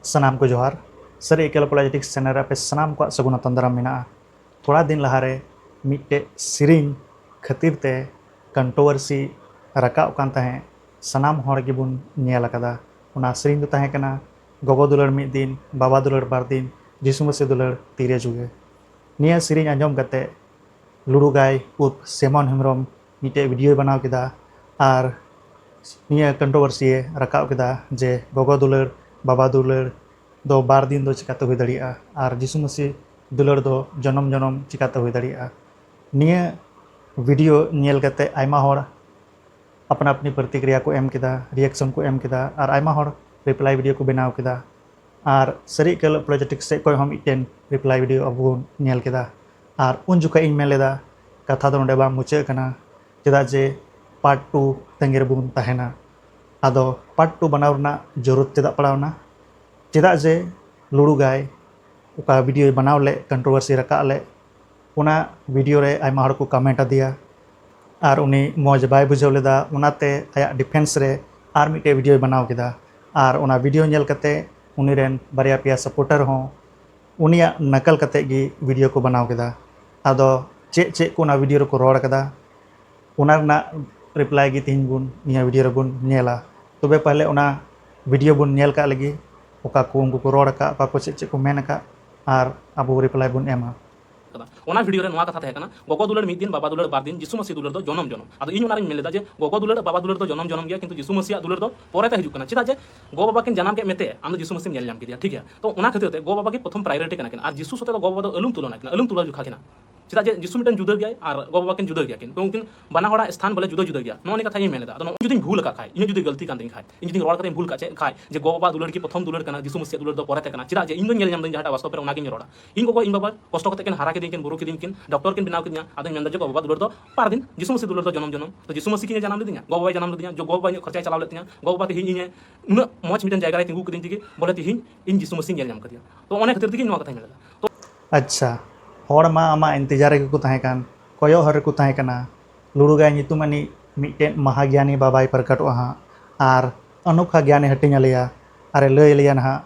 ᱥᱟᱱᱟᱢ ᱠᱚ ᱡᱚᱦᱟᱨ ᱥᱟᱹᱨᱤ ᱮᱠᱮᱞ ᱯᱚᱞᱟᱡᱮᱴᱤᱠ ᱪᱮᱱᱮᱞ ᱨᱮ ᱟᱯᱮ ᱥᱟᱱᱟᱢ ᱠᱚᱣᱟᱜ ᱥᱟᱹᱜᱩᱱ ᱟᱛᱟᱝ ᱫᱟᱨᱟᱢ ᱢᱮᱱᱟᱜᱼᱟ ᱛᱷᱚᱲᱟ ᱫᱤᱱ ᱞᱟᱦᱟᱨᱮ ᱢᱤᱫᱴᱮᱡ ᱥᱮᱨᱮᱧ ᱠᱷᱟᱹᱛᱤᱨ ᱛᱮ ᱠᱚᱱᱴᱨᱳᱣᱟᱨᱥᱤ ᱨᱟᱠᱟᱵ ᱠᱟᱱ ᱛᱟᱦᱮᱸᱫ ᱥᱟᱱᱟᱢ ᱦᱚᱲ ᱜᱮᱵᱚᱱ ᱧᱮᱞ ᱟᱠᱟᱫᱟ ᱚᱱᱟ ᱥᱮᱨᱮᱧ ᱫᱚ ᱛᱟᱦᱮᱸ ᱠᱟᱱᱟ ᱜᱚᱜᱚ ᱫᱩᱞᱟᱹᱲ ᱢᱤᱫ ᱫᱤᱱ ᱵᱟᱵᱟ ᱫᱩᱞᱟᱹᱲ ᱵᱟᱨ ᱫᱤᱱ ᱡᱤᱥᱩ ᱢᱟᱹᱥᱤ ᱫᱩᱞᱟᱹᱲ ᱛᱤᱨᱮ ᱡᱩᱜᱮ ᱱᱤᱭᱟᱹ ᱥᱮᱨᱮᱧ ᱟᱸᱡᱚᱢ ᱠᱟᱛᱮ ᱞᱩᱲᱩ ᱜᱟᱭ ᱩᱨᱯᱷ ᱥᱮᱢᱚᱱ ᱦᱮᱢᱵᱨᱚᱢ ᱢᱤᱫᱴᱮᱡ ᱵᱷᱤᱰᱤᱭᱳᱭ ᱵᱟᱱᱟᱣ ᱠᱮᱫᱟ ᱟᱨ ᱱᱤᱭᱟᱹ ᱠᱚᱱᱴᱨᱚᱵᱚᱨᱥᱤᱭᱮ ᱨᱟᱠᱟᱵ ᱠᱮᱫᱟ ᱡᱮ ᱜᱚᱜᱚ ᱫᱩᱞᱟᱹᱲ ᱵᱟᱵᱟ ᱫᱩᱞᱟᱹᱲ ᱫᱚ ᱵᱟᱨ ᱫᱤᱱ ᱫᱚ ᱪᱮᱠᱟᱛᱮ ᱦᱩᱭ ᱫᱟᱲᱮᱭᱟᱜᱼᱟ ᱟᱨ ᱡᱤᱥᱩ ᱢᱟᱹᱥᱤ ᱫᱩᱞᱟᱹᱲ ᱫᱚ ᱡᱚᱱᱚᱢ ᱡᱚᱱᱚᱢ ᱪᱮᱠᱟᱛᱮ ᱦᱩᱭ ᱫᱟᱲᱮᱭᱟᱜᱼᱟ ᱱᱤᱭᱟᱹ ᱵᱷᱤᱰᱤᱭᱳ ᱧᱮᱞ ᱠᱟᱛᱮ ᱟᱭᱢᱟ ᱦᱚᱲ ᱟᱯᱱᱟ ᱟᱯᱱᱤ ᱯᱨᱚᱛᱤᱠᱨᱤᱭᱟ ᱠᱚ ᱮᱢ ᱠᱮᱫᱟ, ᱨᱤᱭᱮᱠᱥᱚᱱ ᱠᱚ ᱮᱢ ᱠᱮᱫᱟ ᱟᱨ ᱟᱭᱢᱟ ᱦᱚᱲ ᱨᱤᱯᱞᱟᱭ ᱵᱷᱤᱰᱤᱭᱳ ᱠᱚ ᱵᱮᱱᱟᱣ ᱠᱮᱫᱟ᱾ ᱟᱨ ᱥᱟᱹᱨᱤ ᱮᱠᱟᱹᱞ ᱟᱯᱳᱞᱚᱡᱮᱴᱤᱠ ᱥᱮᱡ ᱠᱷᱚᱡ ᱦᱚᱸ ᱢᱤᱫᱴᱮᱱ ᱨᱤᱯᱞᱟᱭ ᱵᱷᱤᱰᱤᱭᱳ ᱟᱵᱚ ᱵᱚᱱ ᱧᱮᱞ ᱠᱮᱫᱟ᱾ ᱟᱨ ᱩᱱ ᱡᱚᱠᱷᱮᱡ ᱤᱧ ᱢᱮᱱ ᱞᱮᱫᱟ ᱠᱟᱛᱷᱟ ᱫᱚ ᱱᱚᱰᱮ ᱵᱟᱝ ᱢᱩᱪᱟᱹᱫ ᱟᱠᱟᱱᱟ ᱪᱮᱫᱟᱜ ᱡᱮ ᱯᱟᱨᱴ ᱴᱩ ᱛᱟᱺᱜᱤ ᱨᱮᱵᱚᱱ ᱛᱟᱦᱮᱸᱱᱟ᱾ ᱟᱫᱚ ᱯᱟᱨᱴ ᱴᱩ ᱵᱟᱱᱟᱣ ᱨᱮᱱᱟᱜ ᱡᱚᱨᱩᱨᱛ ᱪᱮᱫᱟᱜ ᱯᱟᱲᱟᱣ ᱮᱱᱟ? ᱪᱮᱫᱟᱜ ᱡᱮ ᱞᱩᱲᱩ ᱜᱟᱭ ᱚᱠᱟ ᱵᱷᱤᱰᱤᱭᱳᱭ ᱵᱟᱱᱟᱣ ᱞᱮᱫ ᱠᱚᱱᱴᱨᱚᱵᱷᱟᱨᱥᱤ ᱨᱟᱠᱟᱜ ᱞᱮᱫ ᱚᱱᱟ ᱵᱷᱤᱰᱤᱭᱳ ᱨᱮ ᱟᱭᱢᱟ ᱦᱚᱲ ᱠᱚ ᱠᱟᱢᱮᱱᱴ ᱟᱫᱮᱭᱟ ᱟᱨ ᱩᱱᱤ ᱢᱚᱡᱽ ᱵᱟᱭ ᱵᱩᱡᱷᱟᱹᱣ ᱞᱮᱫᱟ ᱚᱱᱟᱛᱮ ᱟᱭᱟᱜ ᱰᱤᱯᱷᱮᱱᱥ ᱨᱮ ᱟᱨ ᱢᱤᱫᱴᱮᱡ ᱵᱷᱤᱰᱤᱭᱳᱭ ᱵᱮᱱᱟᱣ ᱠᱮᱫᱟ ᱟᱨ ᱚᱱᱟ ᱵᱷᱤᱰᱤᱭᱳ ᱧᱮᱞ ᱠᱟᱛᱮ ᱩᱱᱤ ᱨᱮᱱ ᱵᱟᱨᱭᱟ ᱯᱮᱭᱟ ᱥᱟᱯᱳᱨᱴᱟᱨ ᱦᱚᱸ ᱩᱱᱤᱭᱟᱜ ᱱᱟᱠᱟᱞ ᱠᱟᱛᱮ ᱜᱮ ᱵᱷᱤᱰᱤᱭᱳ ᱠᱚ ᱵᱮᱱᱟᱣ ᱠᱮᱫᱟ ᱟᱫᱚ ᱪᱮᱫ ᱪᱮᱫ ᱠᱚ ᱚᱱᱟ ᱵᱷᱤᱰᱤᱭᱳ ᱨᱮᱠᱚ ᱨᱚᱲ ᱠᱟᱫᱟ ᱚᱱᱟ ᱨᱮᱱᱟᱜ ᱨᱤᱯᱞᱟᱭ ᱜᱮ ᱛᱮᱦᱮᱧ ᱵᱚᱱ ᱱᱤᱭᱟᱹ ᱵᱷᱤᱰᱤᱭᱳ ᱨᱮᱵᱚᱱ ᱧᱮᱞᱟ ᱛᱚᱵᱮ ᱯᱟᱦᱞᱮ ᱚᱱᱟ ᱵᱷᱤᱰᱤᱭᱳ ᱵᱚᱱ ᱧᱮᱞ ᱠᱟᱜ ᱞᱮᱜᱮ ᱚᱠᱟ ᱠᱚ ᱩᱱᱠᱩ ᱠᱚ ᱨᱚᱲ ᱟᱠᱟᱫ ᱚᱠᱟ ᱠᱚ ᱪᱮᱫ ᱪᱮᱫ ᱠᱚ ᱢᱮᱱ ᱟᱠᱟᱫ ᱟᱨ ᱟᱵᱚ ᱨᱤᱯᱞᱟᱭ ᱵᱚᱱ ᱮᱢᱟ ᱠᱟᱫᱟ ᱚᱱᱟ ᱵᱷᱤᱰᱤᱭᱳ ᱨᱮ ᱱᱚᱣᱟ ᱠᱟᱛᱷᱟ ᱛᱟᱦᱮᱸ ᱠᱟᱱᱟ ᱜᱚᱜᱚ ᱫᱩᱞᱟᱹᱲ ᱢᱤᱫ ᱫᱤᱱ ᱵᱟᱵᱟ ᱫᱩᱞᱟᱹᱲ ᱵᱟᱨ ᱫᱤᱱ ᱡᱤᱥᱩ ᱢᱟᱹᱥᱤ ᱫᱩᱞᱟᱹᱲ ᱫᱚ ᱡᱚᱱᱚᱢ ᱡᱚᱱᱚᱢ ᱟᱫᱚ ᱤᱧ ᱚᱱᱟ ᱨᱮᱧ ᱢᱮᱱ ᱞᱮᱫᱟ ᱡᱮ ᱜᱚᱜᱚ ᱫᱩᱞᱟᱹᱲ ᱵᱟᱵᱟ ᱫᱩᱞᱟᱹᱲ ᱫᱚ ᱡᱚᱱᱚᱢ ᱡᱚᱱᱚᱢ ᱜᱮᱭᱟ ᱠᱤᱱᱛᱩ ᱡᱤᱥᱩ ᱢᱟᱹᱥᱤᱭᱟᱜ ᱫᱩᱞᱟᱹᱲ ᱫᱚ ᱯᱚᱨᱮ ᱛᱮ ᱦᱤᱡᱩᱜ ᱠᱟᱱᱟ ᱪᱮᱫᱟᱜ ᱡᱮ ᱜᱚ ᱵᱟᱵᱟ ᱠᱤᱱ ᱡᱟᱱᱟᱢ ᱠᱮᱫ ᱢᱮᱛᱮ ᱟᱢ ᱫᱚ ᱡᱤᱥᱩ ᱢᱟᱹᱥᱤᱢ ᱧᱮᱞ ᱧᱟᱢ ᱠᱮᱫᱮᱭᱟ ᱴᱷᱤᱠ ᱜᱮᱭᱟ ᱛᱚ ᱚᱱᱟ ᱠᱷᱟᱹᱛᱤᱨ ᱛᱮ ᱜᱚ ᱵᱟᱵᱟ ᱜᱮ ᱯᱨᱚᱛᱷᱚᱢ ᱯᱨᱟᱭᱚᱨᱤᱴᱤ ᱠᱟᱱᱟ ᱠᱤᱱ ᱟᱨ ᱡᱤᱥᱩ ᱥᱟᱛᱮ ᱫᱚ ᱜᱚ ᱵᱟᱵᱟ ᱫᱚ ᱟᱞᱩᱢ ᱛᱩᱞᱚᱱᱟ ᱠᱤᱱᱟ ᱟᱞᱩᱢ ᱛᱩᱞᱟᱹ ᱡᱚᱠᱷᱟ ᱠᱤᱱᱟ ᱪᱮᱫᱟᱜ ᱡᱮ ᱡᱤᱥᱩ ᱢᱤᱫᱴᱟᱝ ᱡᱩᱫᱟᱹ ᱜᱮᱭᱟᱭ ᱟᱨ ᱜᱚ ᱵᱟᱵᱟ ᱠᱤᱱ ᱡᱩᱫᱟᱹ ᱜᱮᱭᱟ ᱠᱤᱱ ᱩᱱᱠᱤᱱ ᱵᱟᱱᱟ ᱦᱚᱲᱟᱜ ᱥᱛᱷᱟᱱ ᱵᱚᱞᱮ ᱡᱩᱫᱟᱹ ᱡᱩᱫᱟᱹ ᱜᱮᱭᱟ ᱱᱚᱜᱼᱚ ᱱᱤᱭᱟᱹ ᱠᱟᱛᱷᱟ ᱤᱧ ᱢᱮᱱ ᱮᱫᱟ ᱟᱫᱚ ᱱᱚᱜᱼᱚᱭ ᱡᱩᱫᱤᱧ ᱵᱷᱩᱞ ᱟᱠᱟᱫ ᱠᱷᱟᱡ ᱤᱧᱟᱹᱜ ᱡᱩᱫᱤ ᱜᱟᱹᱞᱛᱤ ᱠᱟᱱ ᱛᱤᱧ ᱠᱷᱟᱡ ᱤᱧ ᱡᱩᱫᱤ ᱨᱚᱲ ᱠᱟᱛᱮᱧ ᱵᱷᱩᱞ ᱠᱟᱜ ᱪᱮᱫ ᱠᱷᱟᱡ ᱡᱮ ᱜᱚ ᱵᱟᱵᱟ ᱫᱩᱞᱟᱹᱲ ᱜᱮ ᱯᱨᱚᱛᱷᱚᱢ ᱫᱩᱞᱟᱹᱲ ᱠᱟᱱᱟ ᱡᱤᱥᱩ ᱢᱮᱥᱤᱭᱟᱜ ᱫᱩᱞᱟᱹᱲ ᱫᱚ ᱯᱚᱨᱮ ᱛᱮ ᱠᱟᱱᱟ ᱪᱮᱫᱟᱜ ᱡᱮ ᱤᱧ ᱫᱚᱧ ᱧᱮᱞ ᱧᱟᱢ ᱫᱟᱹᱧ ᱡᱟᱦᱟᱸᱴᱟᱜ ᱵᱟᱥᱛᱚᱵ ᱨᱮ ᱚᱱᱟᱜᱤᱧ ᱨᱚᱲᱟ ᱤᱧ ᱜᱚᱜᱚ ᱤᱧ ᱵᱟᱵᱟ ᱠᱚᱥᱴᱚ ᱠᱟᱛᱮ ᱠᱤᱱ ᱦᱟᱨᱟ ᱠᱤᱫᱤᱧ ᱠᱤᱱ ᱵᱩᱨᱩ ᱠᱤᱫᱤᱧ ᱠᱤᱱ ᱰᱚᱠᱴᱚᱨ ᱠᱤᱱ ᱵᱮᱱᱟᱣ ᱠᱤᱫᱤᱧᱟ ᱟᱫᱚᱧ ᱢᱮᱱᱫᱟ ᱡᱮ ᱜᱚ ᱵᱟᱵᱟ ᱫᱩᱞᱟᱹᱲ ᱫᱚ ᱯᱟᱨ ᱫᱤᱱ ᱡᱤᱥᱩ ᱢᱮᱥᱤ ᱫᱩᱞᱟᱹᱲ ᱫᱚ ᱡᱚᱱᱚᱢ ᱡᱚᱱᱚᱢ ᱛᱚ ᱡᱤᱥᱩ ᱢᱮᱥᱤ ᱠᱤᱱ ᱡᱟᱱᱟᱢ ᱞᱤᱫᱤᱧᱟ ᱜᱚ ᱵᱟᱵᱟᱭ ᱡᱟᱱᱟᱢ ᱞᱤᱫᱤᱧᱟ ᱡᱚ ᱜᱚ ᱵᱟᱵᱟ ᱤᱧᱟᱹᱜ ᱠᱷᱚᱨᱪᱟᱭ ᱪᱟᱞᱟᱣ ᱞᱮᱫ ᱛᱤᱧᱟ ᱜᱚ ᱵᱟᱵᱟ ᱛᱮᱦᱮᱧ ᱤᱧᱮ ᱩᱱᱟᱹᱜ ᱢᱚᱡᱽ ᱢᱤᱫᱴᱟᱝ ᱡᱟᱭᱜᱟ ᱨᱮ ᱛᱤᱸᱜᱩ ᱠᱤᱫᱤᱧ ᱛᱮᱜᱮ ᱵᱚᱞᱮ ᱛᱮᱦᱮᱧ ᱤᱧ ᱡᱤᱥᱩ ᱢᱮᱥᱤᱧ ᱧᱮᱞ ᱧᱟᱢ ᱠᱟᱫᱮᱭᱟ ᱛᱚ ᱚᱱᱟ ᱠᱷᱟᱹᱛᱤᱨ ᱛᱮᱜᱮ ᱱᱚᱣᱟ ᱠᱟᱛᱷᱟᱧ ᱢᱮᱱ ᱮᱫᱟ ᱟᱪᱪᱷᱟ᱾ ᱦᱚᱲ ᱢᱟ ᱟᱢᱟᱜ ᱤᱱᱛᱮᱡᱟᱨ ᱨᱮᱜᱮ ᱠᱚ ᱛᱟᱦᱮᱸ ᱠᱟᱱ, ᱠᱚᱭᱚᱜ ᱦᱚᱨ ᱨᱮᱠᱚ ᱛᱟᱦᱮᱸ ᱠᱟᱱᱟ᱾ ᱞᱩᱲᱩᱜᱟᱭ ᱧᱩᱛᱩᱢ ᱟᱹᱱᱤᱡ ᱢᱤᱫᱴᱮᱱ ᱢᱟᱦᱟᱜᱽᱭᱟᱱᱤ ᱵᱟᱵᱟᱭ ᱯᱨᱚᱠᱚᱴᱚᱜᱼᱟ ᱦᱟᱸᱜ ᱟᱨ ᱚᱱᱚᱠᱷᱟ ᱜᱽᱭᱟᱱᱮ ᱦᱟᱹᱴᱤᱧ ᱟᱞᱮᱭᱟ ᱟᱨᱮ ᱞᱟᱹᱭ ᱟᱞᱮᱭᱟ ᱱᱟᱦᱟᱜ,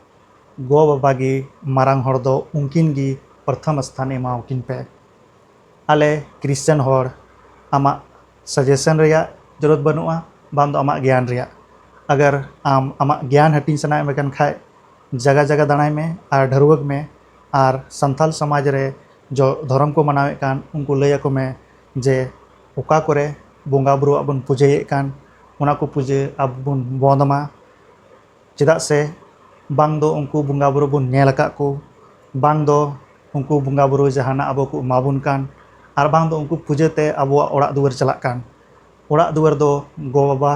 ᱜᱚ ᱵᱟᱵᱟ ᱜᱮ ᱢᱟᱨᱟᱝ ᱦᱚᱲ ᱫᱚ ᱩᱱᱠᱤᱱ ᱜᱮ ᱯᱨᱚᱛᱷᱚᱢ ᱥᱛᱷᱟᱱ ᱮᱢᱟᱣᱟᱠᱤᱱ ᱯᱮ᱾ ᱟᱞᱮ ᱠᱨᱤᱥᱪᱟᱱ ᱦᱚᱲ ᱟᱢᱟᱜ ᱥᱟᱡᱮᱥᱚᱱ ᱨᱮᱭᱟᱜ ᱡᱚᱨᱩᱨᱟᱛ ᱵᱟᱹᱱᱩᱜᱼᱟ ᱵᱟᱝ ᱫᱚ ᱟᱢᱟᱜ ᱜᱽᱭᱟᱱ ᱨᱮᱭᱟᱜ᱾ ᱟᱜᱟᱨ ᱟᱢ ᱟᱢᱟᱜ ᱜᱽᱭᱟᱱ ᱦᱟᱹᱴᱤᱧ ᱥᱟᱱᱟᱭᱮᱫ ᱢᱮ ᱠᱟᱱ ᱠᱷᱟᱡ ᱡᱟᱜᱟ ᱡᱟᱜᱟ ᱫᱟᱬᱟᱭ ᱢᱮ ᱟᱨ ᱰᱷᱟᱹᱨᱣᱟᱹᱜᱽ ᱢᱮ᱾ ᱟᱨ ᱥᱟᱱᱛᱟᱲ ᱥᱚᱢᱟᱡᱽ ᱨᱮ ᱡᱚ ᱫᱷᱚᱨᱚᱢ ᱠᱚ ᱢᱟᱱᱟᱣᱮᱫ ᱠᱟᱱ ᱩᱱᱠᱩ ᱞᱟᱹᱭ ᱟᱠᱚ ᱢᱮ ᱡᱮ ᱚᱠᱟ ᱠᱚᱨᱮ ᱵᱚᱸᱜᱟ ᱵᱳᱨᱳᱣᱟᱜ ᱵᱚᱱ ᱯᱩᱡᱟᱹᱭᱮᱫ ᱠᱟᱱ ᱚᱱᱟ ᱠᱚ ᱯᱩᱡᱟᱹ ᱟᱵᱚ ᱵᱚᱱ ᱵᱚᱸᱫᱽ ᱢᱟ ᱪᱮᱫᱟᱜ ᱥᱮ ᱵᱟᱝ ᱫᱚ ᱩᱱᱠᱩ ᱵᱚᱸᱜᱟ ᱵᱳᱨᱳ ᱵᱚᱱ ᱧᱮᱞ ᱟᱠᱟᱫ ᱠᱚ ᱵᱟᱝ ᱫᱚ ᱩᱱᱠᱩ ᱵᱚᱸᱜᱟ ᱵᱳᱨᱳ ᱡᱟᱦᱟᱱᱟᱜ ᱟᱵᱚ ᱠᱚ ᱮᱢᱟ ᱵᱚᱱ ᱠᱟᱱ ᱟᱨ ᱵᱟᱝ ᱫᱚ ᱩᱱᱠᱩ ᱯᱩᱡᱟᱹ ᱛᱮ ᱟᱵᱚᱣᱟᱜ ᱚᱲᱟᱜ ᱫᱩᱣᱟᱹᱨ ᱪᱟᱞᱟᱜ ᱠᱟᱱ ᱚᱲᱟᱜ ᱫᱩᱣᱟᱹᱨ ᱫᱚ ᱜᱚᱼᱵᱟᱵᱟ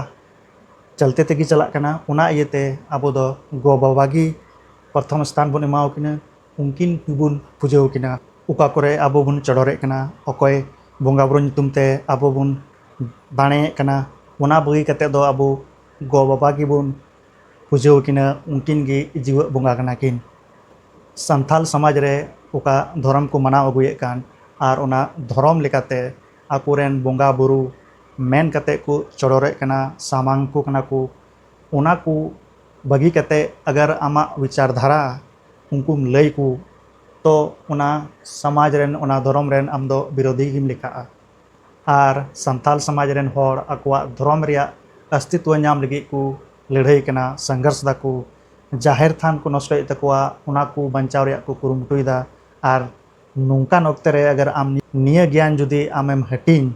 ᱪᱟᱞᱛᱮ ᱛᱮᱜᱮ ᱪᱟᱞᱟᱜ ᱠᱟᱱᱟ ᱚᱱᱟ ᱤᱭᱟᱹᱛᱮ ᱟᱵᱚ ᱫᱚ ᱜᱚ ᱵᱟᱵᱟ ᱜᱮ ᱯᱨᱚᱛᱷᱚᱢ ᱥᱛᱷᱟᱱ ᱵᱚᱱ ᱮᱢᱟᱣ ᱠᱤᱱᱟᱹ ᱩᱱᱠᱤᱱ ᱜᱮᱵᱚᱱ ᱯᱩᱡᱟᱹᱣ ᱠᱤᱱᱟ ᱚᱠᱟ ᱠᱚᱨᱮ ᱟᱵᱚ ᱵᱚᱱ ᱪᱚᱰᱚᱨᱮᱫ ᱠᱟᱱᱟ ᱚᱠᱚᱭ ᱵᱚᱸᱜᱟ ᱵᱳᱨᱳ ᱧᱩᱛᱩᱢ ᱛᱮ ᱟᱵᱚ ᱵᱚᱱ ᱫᱟᱲᱮᱭᱮᱫ ᱠᱟᱱᱟ ᱚᱱᱟ ᱵᱟᱹᱜᱤ ᱠᱟᱛᱮᱫ ᱫᱚ ᱟᱵᱚ ᱜᱚ ᱵᱟᱵᱟ ᱜᱮᱵᱚᱱ ᱯᱩᱡᱟᱹᱣ ᱠᱤᱱᱟᱹ ᱩᱱᱠᱤᱱ ᱜᱮ ᱡᱤᱣᱮᱫ ᱵᱚᱸᱜᱟ ᱠᱟᱱᱟ ᱠᱤᱱ ᱥᱟᱱᱛᱟᱲ ᱥᱚᱢᱟᱡᱽ ᱨᱮ ᱚᱠᱟ ᱫᱷᱚᱨᱚᱢ ᱠᱚ ᱢᱟᱱᱟᱣ ᱟᱹᱜᱩᱭᱮᱫ ᱠᱟᱱ ᱟᱨ ᱚᱱᱟ ᱫᱷᱚᱨᱚᱢ ᱞᱮᱠᱟᱛᱮ ᱟᱠᱚ ᱨᱮᱱ ᱵᱚᱸᱜᱟ ᱵᱳᱨᱳ ᱢᱮᱱ ᱠᱟᱛᱮᱫ ᱠᱚ ᱪᱚᱰᱚᱨᱮᱫ ᱠᱟᱱᱟ ᱥᱟᱢᱟᱝ ᱟᱠᱚ ᱠᱟᱱᱟ ᱠᱚ ᱚᱱᱟ ᱠᱚ ᱵᱟᱹᱜᱤ ᱠᱟᱛᱮᱫ ᱟᱜᱟᱨ ᱟᱢᱟᱜ ᱵᱤᱪᱟᱨ ᱫᱷᱟᱨᱟ ᱩᱱᱠᱩᱢ ᱞᱟᱹᱭ ᱟᱠᱚ ᱛᱚ ᱚᱱᱟ ᱥᱚᱢᱟᱡᱽ ᱨᱮᱱ ᱚᱱᱟ ᱫᱷᱚᱨᱚᱢ ᱨᱮᱱ ᱟᱢ ᱫᱚ ᱵᱤᱨᱳᱫᱷᱤ ᱜᱮᱢ ᱞᱮᱠᱷᱟᱜᱼᱟ ᱟᱨ ᱥᱟᱱᱛᱟᱲ ᱥᱚᱢᱟᱡᱽ ᱨᱮᱱ ᱦᱚᱲ ᱟᱠᱚᱣᱟᱜ ᱫᱷᱚᱨᱚᱢ ᱨᱮᱭᱟᱜ ᱚᱥᱛᱤᱛᱛᱚ ᱧᱟᱢ ᱞᱟᱹᱜᱤᱫ ᱠᱚ ᱞᱟᱹᱲᱦᱟᱹᱭ ᱠᱟᱱᱟ ᱥᱚᱝᱜᱷᱚᱨᱥ ᱮᱫᱟ ᱠᱚ ᱡᱟᱦᱮᱨ ᱛᱷᱟᱱ ᱠᱚ ᱱᱚᱥᱴᱚᱭᱮᱫ ᱛᱟᱠᱚᱣᱟ ᱚᱱᱟ ᱠᱚ ᱵᱟᱧᱪᱟᱣ ᱨᱮᱭᱟᱜ ᱠᱚ ᱠᱩᱨᱩᱢᱩᱴᱩᱭᱮᱫᱟ ᱟᱨ ᱱᱚᱝᱠᱟᱱ ᱚᱠᱛᱮ ᱨᱮ ᱟᱜᱟᱨ ᱟᱢ ᱱᱤᱭᱟᱹ ᱜᱮᱭᱟᱱ ᱡᱩᱫᱤ ᱟᱢᱮᱢ ᱦᱟᱹᱴᱤᱧ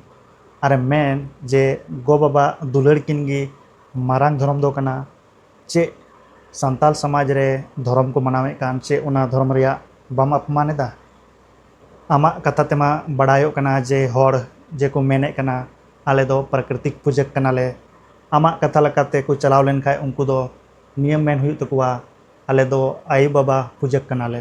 ᱟᱨᱮᱢ ᱢᱮᱱ ᱡᱮ ᱜᱚ ᱵᱟᱵᱟ ᱫᱩᱞᱟᱹᱲ ᱠᱤᱱ ᱜᱮ ᱢᱟᱨᱟᱝ ᱫᱷᱚᱨᱚᱢ ᱫᱚ ᱠᱟᱱᱟ ᱪᱮᱫ ᱥᱟᱱᱛᱟᱞ ᱥᱚᱢᱟᱡᱽ ᱨᱮ ᱫᱷᱚᱨᱚᱢ ᱠᱚ ᱢᱟᱱᱟᱣᱮᱫ ᱠᱟᱱ ᱪᱮᱫ ᱚᱱᱟ ᱫᱷᱚᱨᱚᱢ ᱨᱮᱭᱟᱜ ᱵᱟᱢ ᱟᱯᱢᱟᱱ ᱮᱫᱟ? ᱟᱢᱟᱜ ᱠᱟᱛᱷᱟ ᱛᱮᱢᱟ ᱵᱟᱰᱟᱭᱚᱜ ᱠᱟᱱᱟ ᱡᱮ ᱦᱚᱲ ᱡᱮ ᱠᱚ ᱢᱮᱱᱮᱫ ᱠᱟᱱᱟ ᱟᱞᱮ ᱫᱚ ᱯᱨᱟᱠᱨᱤᱛᱤᱠ ᱯᱩᱡᱟᱹᱠ ᱠᱟᱱᱟ ᱞᱮ ᱟᱢᱟᱜ ᱠᱟᱛᱷᱟ ᱞᱮᱠᱟ ᱛᱮ ᱠᱚ ᱪᱟᱞᱟᱣ ᱞᱮᱱ ᱠᱷᱟᱱ ᱩᱱᱠᱩ ᱫᱚ ᱱᱤᱭᱟᱹ ᱢᱮᱱ ᱦᱩᱭᱩᱜ ᱛᱟᱠᱚᱣᱟ ᱟᱞᱮ ᱫᱚ ᱟᱭᱳ ᱵᱟᱵᱟ ᱯᱩᱡᱟᱹᱠ ᱠᱟᱱᱟ ᱞᱮ᱾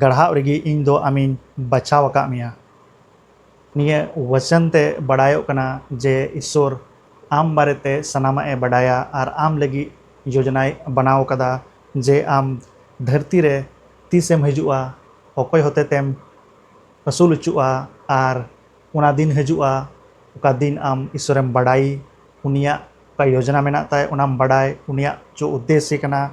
ᱜᱟᱲᱦᱟᱣ ᱨᱮᱜᱮ ᱤᱧ ᱫᱚ ᱟᱢᱤᱧ ᱵᱟᱪᱷᱟᱣ ᱟᱠᱟᱫ ᱢᱮᱭᱟ᱾ ᱱᱤᱭᱟᱹ ᱣᱚᱪᱚᱱ ᱛᱮ ᱵᱟᱰᱟᱭᱚᱜ ᱠᱟᱱᱟ ᱡᱮ ᱤᱥᱣᱚᱨ ᱟᱢ ᱵᱟᱨᱮ ᱛᱮ ᱥᱟᱱᱟᱢᱟᱜ ᱮ ᱵᱟᱰᱟᱭᱟ ᱟᱨ ᱟᱢ ᱞᱟᱹᱜᱤᱫ ᱭᱚᱡᱚᱱᱟᱭ ᱵᱟᱱᱟᱣ ᱟᱠᱟᱫᱟ ᱡᱮ ᱟᱢ ᱫᱷᱟᱹᱨᱛᱤ ᱨᱮ ᱛᱤᱥ ᱮᱢ ᱦᱤᱡᱩᱜᱼᱟ, ᱚᱠᱚᱭ ᱦᱚᱛᱮᱛᱮᱢ ᱟᱹᱥᱩᱞ ᱚᱪᱚᱜᱼᱟ ᱟᱨ ᱚᱱᱟ ᱫᱤᱱ ᱦᱤᱡᱩᱜᱼᱟ ᱚᱠᱟ ᱫᱤᱱ ᱟᱢ ᱤᱥᱣᱚᱨ ᱮᱢ ᱵᱟᱰᱟᱭ, ᱩᱱᱤᱭᱟᱜ ᱚᱠᱟ ᱭᱚᱡᱚᱱᱟ ᱢᱮᱱᱟᱜ ᱛᱟᱭ ᱚᱱᱟᱢ ᱵᱟᱰᱟᱭ, ᱩᱱᱤᱭᱟᱜ ᱪᱚ ᱩᱫᱽᱫᱮᱥᱭᱚ ᱠᱟᱱᱟ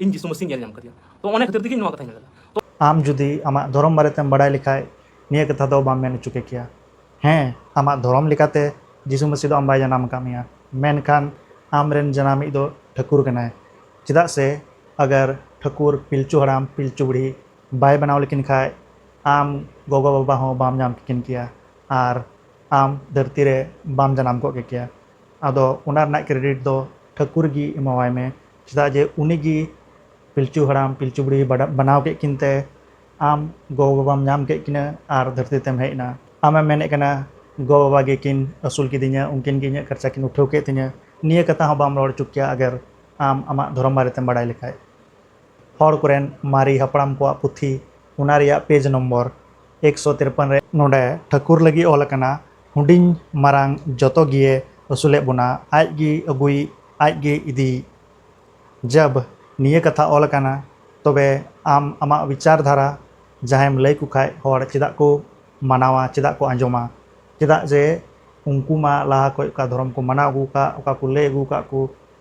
ᱤᱧ ᱡᱤᱥᱩ ᱢᱟᱹᱥᱤᱧ ᱧᱮᱞ ᱧᱟᱢ ᱠᱟᱫᱮᱭᱟ ᱛᱚ ᱚᱱᱟ ᱠᱷᱟᱹᱛᱤᱨ ᱛᱮᱜᱮ ᱱᱚᱣᱟ ᱠᱟᱛᱷᱟᱧ ᱢᱮᱱ ᱞᱮᱫᱟ ᱟᱢ ᱡᱩᱫᱤ ᱟᱢᱟᱜ ᱫᱷᱚᱨᱚᱢ ᱵᱟᱨᱮᱛᱮᱢ ᱵᱟᱰᱟᱭ ᱞᱮᱠᱷᱟᱡ ᱱᱤᱭᱟᱹ ᱠᱟᱛᱷᱟ ᱫᱚ ᱵᱟᱢ ᱢᱮᱱ ᱦᱚᱪᱚ ᱠᱮᱠᱮᱭᱟ ᱦᱮᱸ ᱟᱢᱟᱜ ᱫᱷᱚᱨᱚᱢ ᱞᱮᱠᱟᱛᱮ ᱡᱤᱥᱩ ᱢᱟᱹᱥᱤ ᱫᱚ ᱟᱢ ᱵᱟᱭ ᱡᱟᱱᱟᱢ ᱟᱠᱟᱫ ᱢᱮᱭᱟ ᱢᱮᱱᱠᱷᱟᱱ ᱟᱢᱨᱮᱱ ᱡᱟᱱᱟᱢᱤᱡ ᱫᱚ ᱴᱷᱟᱹᱠᱩᱨ ᱠᱟᱱᱟᱭ ᱪᱮᱫᱟᱜ ᱥᱮ ᱟᱜᱟᱨ ᱴᱷᱟᱹᱠᱩᱨ ᱯᱤᱞᱪᱩ ᱦᱟᱲᱟᱢ ᱯᱤᱞᱪᱩ ᱵᱩᱲᱦᱤ ᱵᱟᱭ ᱵᱮᱱᱟᱣ ᱞᱮᱠᱤᱱ ᱠᱷᱟᱡ ᱟᱢ ᱜᱚᱜᱚ ᱵᱟᱵᱟ ᱦᱚᱸ ᱵᱟᱢ ᱧᱟᱢ ᱠᱮᱠᱤᱱ ᱠᱮᱭᱟ ᱟᱨ ᱟᱢ ᱫᱷᱟᱹᱨᱛᱤ ᱨᱮ ᱵᱟᱢ ᱡᱟᱱᱟᱢ ᱠᱚᱜ ᱠᱮᱠᱮᱭᱟ ᱟᱫᱚ ᱚᱱᱟ ᱨᱮᱱᱟᱜ ᱠᱨᱮᱰᱤᱴ ᱫᱚ ᱴᱷᱟᱹᱠᱩᱨ ᱜᱮ ᱮᱢᱟᱣᱟᱭ ᱢᱮ ᱪᱮᱫᱟᱜ ᱡᱮ ᱩᱱᱤ ᱜᱮ ᱯᱤᱞᱪᱩ ᱦᱟᱲᱟᱢ ᱯᱤᱞᱪᱩ ᱵᱩᱲᱦᱤ ᱵᱟᱱᱟᱣ ᱠᱮᱫ ᱠᱤᱱ ᱛᱮ ᱟᱢ ᱜᱚ ᱵᱟᱵᱟᱢ ᱧᱟᱢ ᱠᱮᱫ ᱠᱤᱱᱟᱹ ᱟᱨ ᱫᱷᱟᱹᱨᱛᱤ ᱛᱮᱢ ᱦᱮᱡ ᱮᱱᱟ ᱟᱢᱮᱢ ᱢᱮᱱᱮᱫ ᱠᱟᱱᱟ ᱜᱚ ᱵᱟᱵᱟ ᱜᱮ ᱠᱤᱱ ᱟᱹᱥᱩᱞ ᱠᱤᱫᱤᱧᱟ ᱩᱱᱠᱤᱱ ᱜᱮ ᱤᱧᱟᱹᱜ ᱠᱷᱚᱨᱪᱟ ᱠᱤᱱ ᱩᱴᱷᱟᱹᱣ ᱠᱮᱫ ᱛᱤᱧᱟᱹ ᱱᱤᱭᱟᱹ ᱠᱟᱛᱷᱟ ᱦᱚᱸ ᱵᱟᱢ ᱨᱚᱲ ᱚᱪᱚ ᱠᱮᱭᱟ ᱟᱜᱟᱨ ᱟᱢ ᱟᱢᱟᱜ ᱫᱷᱚᱨᱚᱢ ᱵᱟᱨᱮ ᱛᱮᱢ ᱵᱟᱲᱟᱭ ᱞᱮᱠᱷᱟᱱ ᱦᱚᱲ ᱠᱚᱨᱮᱱ ᱢᱟᱨᱮ ᱦᱟᱯᱲᱟᱢ ᱠᱚᱣᱟᱜ ᱯᱩᱛᱷᱤ ᱚᱱᱟ ᱨᱮᱭᱟᱜ ᱯᱮᱡᱽ ᱱᱚᱢᱵᱚᱨ ᱮᱠᱥᱚ ᱛᱤᱨᱯᱚᱱ ᱨᱮ ᱱᱚᱸᱰᱮ ᱴᱷᱟᱹᱠᱩᱨ ᱞᱟᱹᱜᱤᱫ ᱚᱞ ᱟᱠᱟᱱᱟ ᱦᱩᱰᱤᱧ ᱢᱟᱨᱟᱝ ᱡᱚᱛᱚ ᱜᱮᱭᱮ ᱟᱹᱥᱩᱞᱮᱫ ᱵᱚᱱᱟ ᱟᱡ ᱜᱮ ᱟᱵᱚᱭᱤᱡ ᱟᱡ ᱜᱮ ᱤᱫᱤᱭᱤᱡ᱾ ᱡᱟᱵᱽ ᱱᱤᱭᱟᱹ ᱠᱟᱛᱷᱟ ᱚᱞ ᱟᱠᱟᱱᱟ ᱛᱚᱵᱮ ᱟᱢ ᱟᱢᱟᱜ ᱣᱤᱪᱟᱨ ᱫᱷᱟᱨᱟ ᱡᱟᱦᱟᱸᱭᱮᱢ ᱞᱟᱹᱭ ᱠᱚ ᱠᱷᱟᱡ ᱦᱚᱲ ᱪᱮᱫᱟᱜ ᱠᱚ ᱢᱟᱱᱟᱣᱟ ᱪᱮᱫᱟᱜ ᱠᱚ ᱟᱸᱡᱚᱢᱟ ᱪᱮᱫᱟᱜ ᱡᱮ ᱩᱱᱠᱩ ᱢᱟ ᱞᱟᱦᱟ ᱠᱷᱚᱡ ᱚᱠᱟ ᱫᱷᱚᱨᱚᱢ ᱠᱚ ᱢᱟᱱᱟᱣ ᱟᱹᱜᱩ ᱟᱠᱟᱫ ᱚᱠᱟ ᱠᱚ ᱞᱟᱹᱭ ᱟᱹᱜᱩ ᱟᱠᱟᱫ ᱠᱚ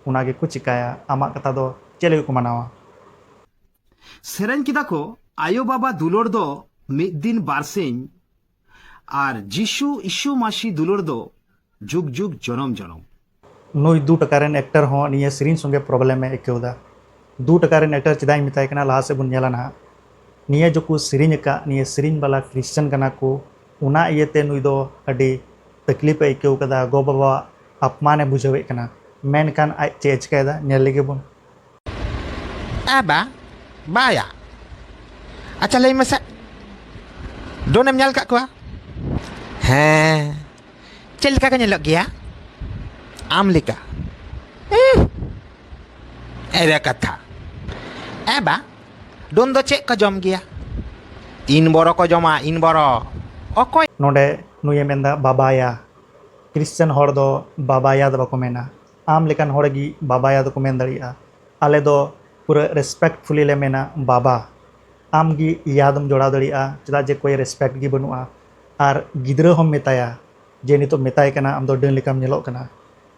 ᱚᱱᱟ ᱜᱮ ᱠᱚ ᱪᱮᱠᱟᱭᱟ ᱟᱢᱟᱜ ᱠᱟᱛᱷᱟ ᱫᱚ ᱪᱮᱫ ᱞᱟᱹᱜᱤᱫ ᱠᱚ ᱢᱟᱱᱟᱣᱟ᱾ ᱥᱮᱨᱮᱧ ᱠᱮᱫᱟ ᱠᱚ ᱟᱭᱳ ᱵᱟᱵᱟ ᱫᱩᱞᱟᱹᱲ ᱫᱚ ᱢᱤᱫ ᱫᱤᱱ ᱵᱟᱨᱥᱤᱧ ᱟᱨ ᱡᱤᱥᱩ ᱤᱥᱩ ᱢᱟᱥᱤ ᱫᱩᱞᱟᱹᱲ ᱫᱚ ᱡᱩᱜᱽ ᱡᱩᱜᱽ ᱡᱚᱱᱚᱢ ᱡᱚᱱᱚᱢ ᱱᱩᱭ ᱫᱩ ᱴᱟᱠᱟ ᱨᱮᱱ ᱮᱠᱴᱟᱨ ᱦᱚᱸ ᱱᱤᱭᱟᱹ ᱥᱮᱨᱮᱧ ᱥᱚᱸᱜᱮ ᱯᱨᱚᱵᱞᱮᱢ ᱮ ᱟᱹᱭᱠᱟᱹᱣ ᱮᱫᱟ ᱫᱩ ᱴᱟᱠᱟ ᱨᱮᱱ ᱮᱠᱴᱟᱨ ᱪᱮᱫᱟᱜ ᱤᱧ ᱢᱮᱛᱟᱭ ᱠᱟᱱᱟ ᱞᱟᱦᱟ ᱥᱮᱫ ᱵᱚᱱ ᱧᱮᱞᱟ ᱱᱟᱦᱟᱜ ᱱᱤᱭᱟᱹ ᱡᱚᱠᱚ ᱥᱮᱨᱮᱧ ᱟᱠᱟᱫ ᱱᱤᱭᱟᱹ ᱥᱮᱨᱮᱧ ᱵᱟᱞᱟ ᱠᱨᱤᱥᱪᱟᱱ ᱠᱟᱱᱟ ᱠᱚ ᱚᱱᱟ ᱤᱭᱟᱹᱛᱮ ᱱᱩᱭ ᱫᱚ ᱟᱹᱰᱤ ᱛᱟᱠᱞᱤᱯ ᱮ ᱟᱹᱭᱠᱟᱹᱣ ᱠᱟᱫᱟ ᱜᱚ ᱵᱟᱵᱟᱣᱟᱜ ᱟᱯᱢᱟᱱ ᱮ ᱵᱩᱡᱷᱟᱹᱣᱮᱫ ᱠᱟᱱᱟ ᱢᱮᱱᱠᱷᱟᱱ ᱟᱡ ᱪᱮᱫ ᱮ ᱪᱤᱠᱟᱹᱭᱮᱫᱟ ᱧᱮᱞ ᱞᱮᱜᱮ ᱵᱚᱱ ᱦᱮᱸ ᱵᱟ ᱵᱟᱭᱟ ᱟᱪᱪᱷᱟ ᱞᱟᱹᱭ ᱢᱮᱥᱮ ᱰᱚᱱᱮᱢ ᱧᱮᱞ ᱠᱟᱜ ᱠᱚᱣᱟ ᱦᱮᱸ ᱪᱮᱫ ᱞᱮᱠᱟ ᱠᱚ ᱧᱮᱞᱚᱜ ᱜᱮᱭᱟ ᱟᱢ ᱞᱮᱠᱟ ᱮᱨᱮ ᱠᱟᱛᱷᱟ ᱮ ᱵᱟ ᱰᱚᱱ ᱫᱚ ᱪᱮᱫ ᱠᱚ ᱡᱚᱢ ᱜᱮᱭᱟ ᱤᱱ ᱵᱚᱨᱚ ᱠᱚ ᱡᱚᱢᱟ ᱤᱱ ᱵᱚᱨᱚ ᱚᱠᱚᱭ ᱱᱚᱰᱮ ᱱᱩᱭᱮ ᱢᱮᱱᱫᱟ ᱵᱟᱵᱟᱭᱟ ᱠᱨᱤᱥᱪᱟᱱ ᱦᱚᱲ ᱫᱚ ᱵᱟᱵᱟᱭᱟ ᱫᱚ ᱵᱟᱠᱚ ᱢᱮᱱᱟ ᱟᱢ ᱞᱮᱠᱟᱱ ᱦᱚᱲ ᱜᱮ ᱵᱟᱵᱟᱭᱟ ᱫᱚᱠᱚ ᱢᱮᱱ ᱫᱟᱲᱮᱭᱟᱜᱼᱟ ᱟᱞᱮ ᱫᱚ ᱯᱩᱨᱟᱹ ᱨᱮᱥᱯᱮᱠᱴᱯᱷᱩᱞᱤ ᱞᱮ ᱢᱮᱱᱟ ᱵᱟᱵᱟ ᱟᱢ ᱜᱮ ᱭᱟ ᱫᱚᱢ ᱡᱚᱲᱟᱣ ᱫᱟᱲᱮᱭᱟᱜᱼᱟ ᱪᱮᱫᱟᱜ ᱡᱮ ᱠᱚᱭ ᱨᱮᱥᱯᱮᱠᱴ ᱜᱮ ᱵᱟᱹᱱᱩᱜᱼᱟ ᱟᱨ ᱜᱤᱫᱽᱨᱟᱹ ᱦᱚᱸᱢ ᱢᱮᱛᱟᱭᱟ ᱡᱮ ᱱᱤᱛᱚᱜ ᱢᱮᱛᱟᱭ ᱠᱟᱱᱟ ᱟᱢ ᱫᱚ ᱰᱟᱹᱱ ᱞᱮᱠᱟᱢ ᱧᱮᱞᱚᱜ ᱠᱟᱱᱟ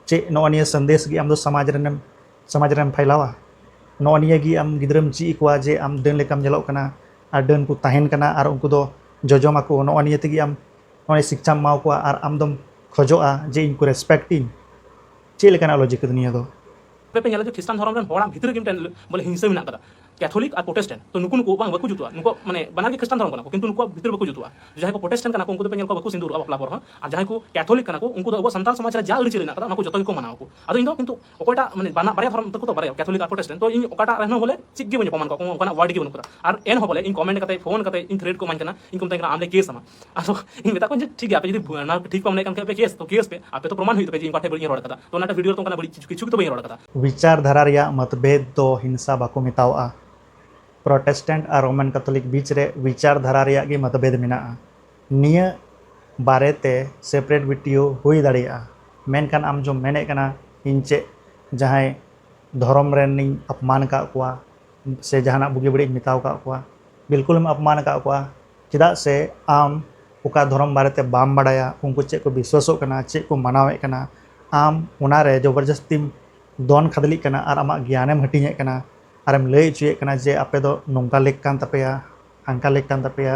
ᱪᱮᱫ ᱱᱚᱜᱼᱚᱭ ᱱᱤᱭᱟᱹ ᱥᱟᱸᱫᱮᱥ ᱜᱮ ᱟᱢ ᱫᱚ ᱥᱚᱢᱟᱡᱽ ᱨᱮᱱᱮᱢ ᱥᱚᱢᱟᱡᱽ ᱨᱮᱢ ᱯᱷᱟᱭᱞᱟᱣᱟ ᱱᱚᱜᱼᱚᱭ ᱱᱤᱭᱟᱹ ᱜᱮ ᱟᱢ ᱜᱤᱫᱽᱨᱟᱹᱢ ᱪᱮᱫ ᱟᱠᱚᱣᱟ ᱡᱮ ᱟᱢ ᱰᱟᱹᱱ ᱞᱮᱠᱟᱢ ᱧᱮᱞᱚᱜ ᱠᱟᱱᱟ ᱟᱨ ᱰᱟᱹᱱ ᱠᱚ ᱛᱟᱦᱮᱱ ᱠᱟᱱᱟ ᱟᱨ ᱩᱱᱠᱩ ᱫᱚ ᱡᱚᱡᱚᱢ ᱟᱠᱚ ᱱᱚᱜᱼᱚᱭ ᱱᱤᱭᱟᱹ ᱛᱮᱜᱮ ᱟᱢ ᱱᱚᱜᱼᱚᱭ ᱥᱤᱠᱪᱷᱟᱢ ᱮᱢᱟ ᱠᱚᱣᱟ ᱟᱨ ᱟᱢ ᱫᱚᱢ ᱠᱷᱚᱡᱚᱜᱼᱟ ᱡᱮ ᱤᱧ ᱠᱚ ᱨᱮᱥᱯᱮᱠᱴ ᱤᱧ ᱪᱮᱫ ᱞᱮᱠᱟᱱᱟᱜ ᱞᱚᱡᱤᱠ ᱠᱟᱱᱟ ᱱᱤᱭᱟᱹ ᱫᱚ ᱟᱯᱮ ᱯᱮ ᱧᱮᱞᱟ ᱡᱮ ᱠᱷᱨᱤᱥᱴᱟᱱ ᱫᱷᱚᱨᱚᱢ ᱨᱮᱱ ᱦᱚᱲᱟᱜ ᱵᱷᱤᱛᱨᱤ ᱨᱮᱜᱮ ᱢᱤᱫᱴᱮᱱ ᱵᱚᱞᱮ ᱦᱤᱝᱥᱟᱹ ᱢᱮᱱᱟᱜ ᱟᱠᱟᱫᱟ ᱠᱮᱛᱷᱚᱞᱤᱠ ᱟᱨ ᱯᱨᱚᱴᱮᱥᱴᱮᱱᱴ ᱛᱚ ᱱᱩᱠᱩ ᱱᱩᱠᱩ ᱵᱟᱝ ᱵᱟᱠᱚ ᱡᱩᱛᱩᱜᱼᱟ ᱱᱩᱠᱩ ᱢᱟᱱᱮ ᱵᱟᱱᱟᱨ ᱜᱮ ᱠᱷᱨᱤᱥᱴᱟᱱ ᱫᱷᱚᱨᱚᱢ ᱠᱟᱱᱟ ᱠᱚ ᱠᱤᱱᱛᱩ ᱱᱩᱠᱩᱣᱟᱜ ᱵᱷᱤᱛᱨᱤ ᱵᱟᱠᱚ ᱡᱩᱛᱩᱜᱼᱟ ᱡᱟᱦᱟᱸᱭ ᱠᱚ ᱯᱨᱚᱴᱮᱥᱴᱮᱱᱴ ᱠᱟᱱᱟ ᱠᱚ ᱩᱱᱠᱩ ᱫᱚ ᱯᱮ ᱧᱮᱞ ᱠᱚᱣᱟ ᱵᱟᱠᱚ ᱥᱤᱸᱫᱩᱨᱚᱜᱼᱟ ᱵᱟᱯᱞᱟ ᱯᱚᱨ ᱦᱚᱸ ᱟᱨ ᱡᱟᱦᱟᱸᱭ ᱠᱚ ᱠᱮᱛᱷᱚᱞᱤᱠ ᱠᱟᱱᱟ ᱠᱚ ᱩᱱᱠᱩ ᱫᱚ ᱟᱵᱚ ᱥᱟᱱᱛᱟᱲ ᱥᱚᱢᱟᱡᱽ ᱨᱮ ᱡᱟ ᱟᱹᱨᱤᱪᱟᱹᱞᱤ ᱢᱮᱱᱟᱜ ᱟᱠᱟᱫᱟ ᱚᱱᱟ ᱠᱚ ᱡᱚᱛᱚ ᱜᱮᱠᱚ ᱢᱟᱱᱟᱣᱟ ᱠᱚ ᱟᱫᱚ ᱤᱧ ᱫᱚ ᱠᱤᱱᱛᱩ ᱚᱠᱚᱭᱴᱟᱜ ᱢᱟᱱᱮ ᱵᱟᱱᱟ ᱵᱟᱨᱭᱟ ᱫᱷᱚᱨᱚᱢ ᱛᱟᱠᱚ ᱛᱚ ᱵᱟᱨᱭᱟ ᱠᱮᱛᱷᱚᱞᱤᱠ ᱟᱨ ᱯᱨᱚᱴᱮᱥᱴᱮᱱᱴ ᱛᱚ ᱤᱧ ᱚᱠᱟᱴᱟᱜ ᱨᱮᱦᱚᱸ ᱵᱚᱞᱮ ᱪᱮᱫ ᱜᱮ ᱵᱟᱹᱧ ᱚᱯᱚᱢᱟᱱ ᱠᱚᱣᱟ ᱠᱚ ᱚᱱᱠᱟᱱᱟᱜ ᱣᱟᱨᱰ ᱜᱮ ᱵᱟᱹᱱᱩᱜ ᱠᱟᱫᱟ ᱟᱨ ᱮᱱ ᱦᱚᱸ ᱵᱚᱞᱮ ᱤᱧ ᱠᱚᱢᱮᱱᱴ ᱠᱟᱛᱮ ᱯᱷᱳᱱ ᱠᱟᱛᱮ ᱤᱧ ᱛᱷᱨᱮᱰ ᱠᱚ ᱮᱢᱟᱹᱧ ᱠᱟᱱᱟ ᱤᱧ ᱠᱚ ᱢᱮᱛᱟᱹᱧ ᱠᱟᱱᱟ ᱟᱢ ᱞᱮ ᱠᱮᱥ ᱟᱢᱟ ᱟᱫᱚ ᱤᱧ ᱢᱮᱛᱟ ᱠᱚᱣᱟᱧ ᱡᱮ ᱴᱷᱤᱠ ᱜᱮᱭᱟ ᱟᱯᱮ ᱡᱩᱫᱤ ᱚᱱᱟ ᱴᱷᱤᱠ ᱯᱮ ᱢᱚᱱᱮ ᱠᱟᱱ ᱠᱷᱟᱱ ᱯᱮ ᱠᱮᱥ ᱛᱚ ᱠᱮᱥ ᱯᱮ ᱟᱯᱮ ᱛᱚ ᱯᱨᱚᱢᱟᱱ ᱦᱩᱭᱩᱜ ᱛᱟᱯᱮ ᱡᱮ ᱤᱧ ᱚᱠᱟ ᱴᱷᱮᱡ ᱵᱟᱹᱲᱤᱡ ᱤᱧ ᱨᱚᱲ ᱠᱟᱫᱟ ᱛᱚ ᱚᱱᱟᱴᱟᱜ ᱵᱷᱤᱰᱤᱭᱳ ᱨᱮ ᱛᱚ ᱚᱱᱠᱟᱱᱟᱜ ᱵᱟᱹᱲᱤᱡ ᱠᱤᱪᱷᱩ ᱜᱮ ᱛᱚ ᱵᱟᱹᱧ ᱨᱚᱲ ᱠᱟᱫᱟ ᱵᱤᱪᱟᱨ ᱫᱷᱟᱨᱟ ᱨᱮᱭᱟᱜ ᱢᱚᱛᱵᱷᱮᱫ ᱫᱚ ᱦᱤᱝᱥᱟ ᱵᱟᱠᱚ ᱢᱮᱛᱟᱣᱟᱜᱼᱟ ᱯᱨᱚᱴᱮᱥᱴᱮᱱᱴ ᱟᱨ ᱨᱳᱢᱟᱱ ᱠᱮᱛᱷᱚᱞᱤᱠ ᱵᱤᱪ ᱨᱮ ᱵᱤᱪᱟᱨ ᱫᱷᱟᱨᱟ ᱨᱮᱭᱟᱜ ᱜᱮ ᱢᱚᱛᱵᱷᱮᱫ ᱢᱮᱱᱟᱜᱼᱟ ᱱᱤᱭᱟᱹ ᱵᱟᱨᱮ ᱛᱮ ᱥᱮᱯᱨᱮᱴ ᱵᱤᱴᱤᱭᱳ ᱦᱩᱭ ᱫᱟᱲᱮᱭᱟᱜᱼᱟ ᱢᱮᱱᱠᱷᱟᱱ ᱟᱢ ᱡᱚᱢ ᱢᱮᱱᱮᱫ ᱠᱟᱱᱟ ᱤᱧ ᱪᱮᱫ ᱡᱟᱦᱟᱸᱭ ᱫᱷᱚᱨᱚᱢ ᱨᱮᱱᱤᱧ ᱟᱯᱢᱟᱱ ᱟᱠᱟᱫ ᱠᱚᱣᱟ ᱥᱮ ᱡᱟᱦᱟᱱᱟᱜ ᱵᱩᱜᱤ ᱵᱟᱹᱲᱤᱡ ᱤᱧ ᱢᱮᱛᱟᱣ ᱟᱠᱟᱫ ᱠᱚᱣᱟ ᱵᱤᱞᱠᱩᱞᱮᱢ ᱟᱯᱢᱟᱱ ᱟᱠᱟᱫ ᱠᱚᱣᱟ ᱪᱮᱫᱟᱜ ᱥᱮ ᱟᱢ ᱚᱠᱟ ᱫᱷᱚᱨᱚᱢ ᱵᱟᱨᱮ ᱛᱮ ᱵᱟᱢ ᱵᱟᱲᱟᱭᱟ ᱩᱱᱠᱩ ᱪᱮᱫ ᱠᱚ ᱵᱤᱥᱣᱟᱥᱚᱜ ᱠᱟᱱᱟ ᱪᱮᱫ ᱠᱚ ᱢᱟᱱᱟᱣᱮᱫ ᱠᱟᱱᱟ ᱟᱢ ᱚᱱᱟ ᱨᱮ ᱡᱚᱵᱚᱨ ᱡᱟᱹᱥᱛᱤᱢ ᱫᱚᱱ ᱠᱷᱟᱫᱽᱞᱮᱜ ᱠᱟᱱᱟ ᱟᱨ ᱟᱢᱟᱜ ᱜᱮᱭᱟᱱᱮᱢ ᱦᱟᱹᱴᱤᱧᱮᱫ ᱠᱟᱱᱟ ᱟᱨᱮᱢ ᱞᱟᱹᱭ ᱚᱪᱚᱭᱮᱫ ᱠᱟᱱᱟ ᱡᱮ ᱟᱯᱮ ᱫᱚ ᱱᱚᱝᱠᱟ ᱞᱮᱠ ᱠᱟᱱ ᱛᱟᱯᱮᱭᱟ ᱦᱟᱱᱠᱟ ᱞᱮᱠ ᱠᱟᱱ ᱛᱟᱯᱮᱭᱟ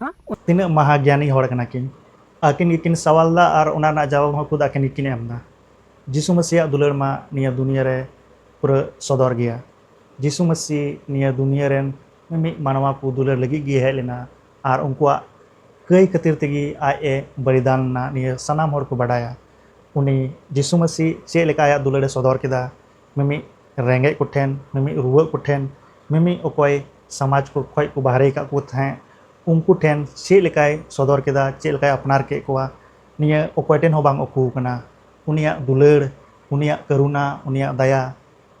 ᱦᱮᱸ ᱛᱤᱱᱟᱹᱜ ᱢᱟᱦᱟ ᱜᱮᱭᱟᱱᱤ ᱦᱚᱲ ᱠᱟᱱᱟ ᱠᱤᱱ ᱟᱹᱠᱤᱱ ᱜᱮᱠᱤᱱ ᱥᱟᱣᱟᱞ ᱫᱟ ᱟᱨ ᱚᱱᱟ ᱨᱮᱱᱟᱜ ᱡᱟᱣᱟᱵ ᱦᱚᱸ ᱠᱷᱩᱫ ᱟᱹᱠᱤᱱ ᱜᱮᱠᱤᱱ ᱮᱢ ᱫᱟ ᱡᱤᱥᱩ ᱢᱟᱹᱥᱤᱭᱟᱜ ᱫᱩᱞᱟᱹᱲ ᱢᱟ ᱱᱤᱭᱟᱹ ᱫᱩᱱᱤᱭᱟᱹ ᱨᱮ ᱯᱩᱨᱟᱹ ᱥᱚᱫᱚᱨ ᱜᱮᱭᱟ ᱡᱤᱥᱩ ᱢᱟᱹᱥᱤ ᱱᱤᱭᱟᱹ ᱫᱩᱱᱤᱭᱟᱹ ᱨᱮᱱ ᱢᱤᱢᱤᱫ ᱢᱟᱱᱣᱟ ᱠᱚ ᱫᱩᱞᱟᱹᱲ ᱞᱟᱹᱜᱤᱫ ᱜᱮ ᱦᱮᱡ ᱞᱮᱱᱟ ᱟᱨ ᱩᱱᱠᱩᱣᱟᱜ ᱠᱟᱹᱭ ᱠᱷᱟᱹᱛᱤᱨ ᱛᱮᱜᱮ ᱟᱡ ᱮ ᱵᱚᱞᱤᱫᱟᱱ ᱞᱮᱱᱟ ᱱᱤᱭᱟᱹ ᱥᱟᱱᱟᱢ ᱦᱚᱲ ᱠᱚ ᱵᱟᱰᱟᱭᱟ ᱩᱱᱤ ᱡᱤᱥᱩ ᱢᱟᱹᱥᱤ ᱪᱮᱫ ᱞᱮᱠᱟ ᱟᱭᱟᱜ ᱫᱩᱞᱟᱹᱲ ᱮ ᱥᱚᱫᱚᱨ ᱠᱮᱫᱟ ᱢᱤᱢᱤᱫ ᱨᱮᱸᱜᱮᱡ ᱠᱚ ᱴᱷᱮᱱ ᱢᱤᱢᱤᱫ ᱨᱩᱣᱟᱹᱜ ᱠᱚ ᱴᱷᱮᱱ ᱢᱤᱢᱤᱫ ᱚᱠᱚᱭ ᱥᱚᱢᱟᱡᱽ ᱠᱚ ᱠᱷᱚᱱ ᱠᱚ ᱵᱟᱦᱨᱮ ᱟᱠᱟᱫ ᱠᱚ ᱛᱟᱦᱮᱸᱫ ᱩᱱᱠᱩ ᱴᱷᱮᱱ ᱪᱮᱫ ᱞᱮᱠᱟᱭ ᱥᱚᱫᱚᱨ ᱠᱮᱫᱟ ᱪᱮᱫ ᱞᱮᱠᱟᱭ ᱟᱯᱱᱟᱨ ᱠᱮᱫ ᱠᱚᱣᱟ ᱱᱤᱭᱟᱹ ᱚᱠᱚᱭ ᱴᱷᱮᱱ ᱦᱚᱸ ᱵᱟᱝ ᱩᱠᱩ ᱟᱠᱟᱱᱟ ᱩᱱᱤᱭᱟᱜ ᱫᱩᱞᱟᱹᱲ ᱩᱱᱤᱭᱟᱜ ᱠᱟᱹᱨᱩᱱᱟ ᱩᱱᱤᱭᱟᱜ ᱫᱟᱭᱟ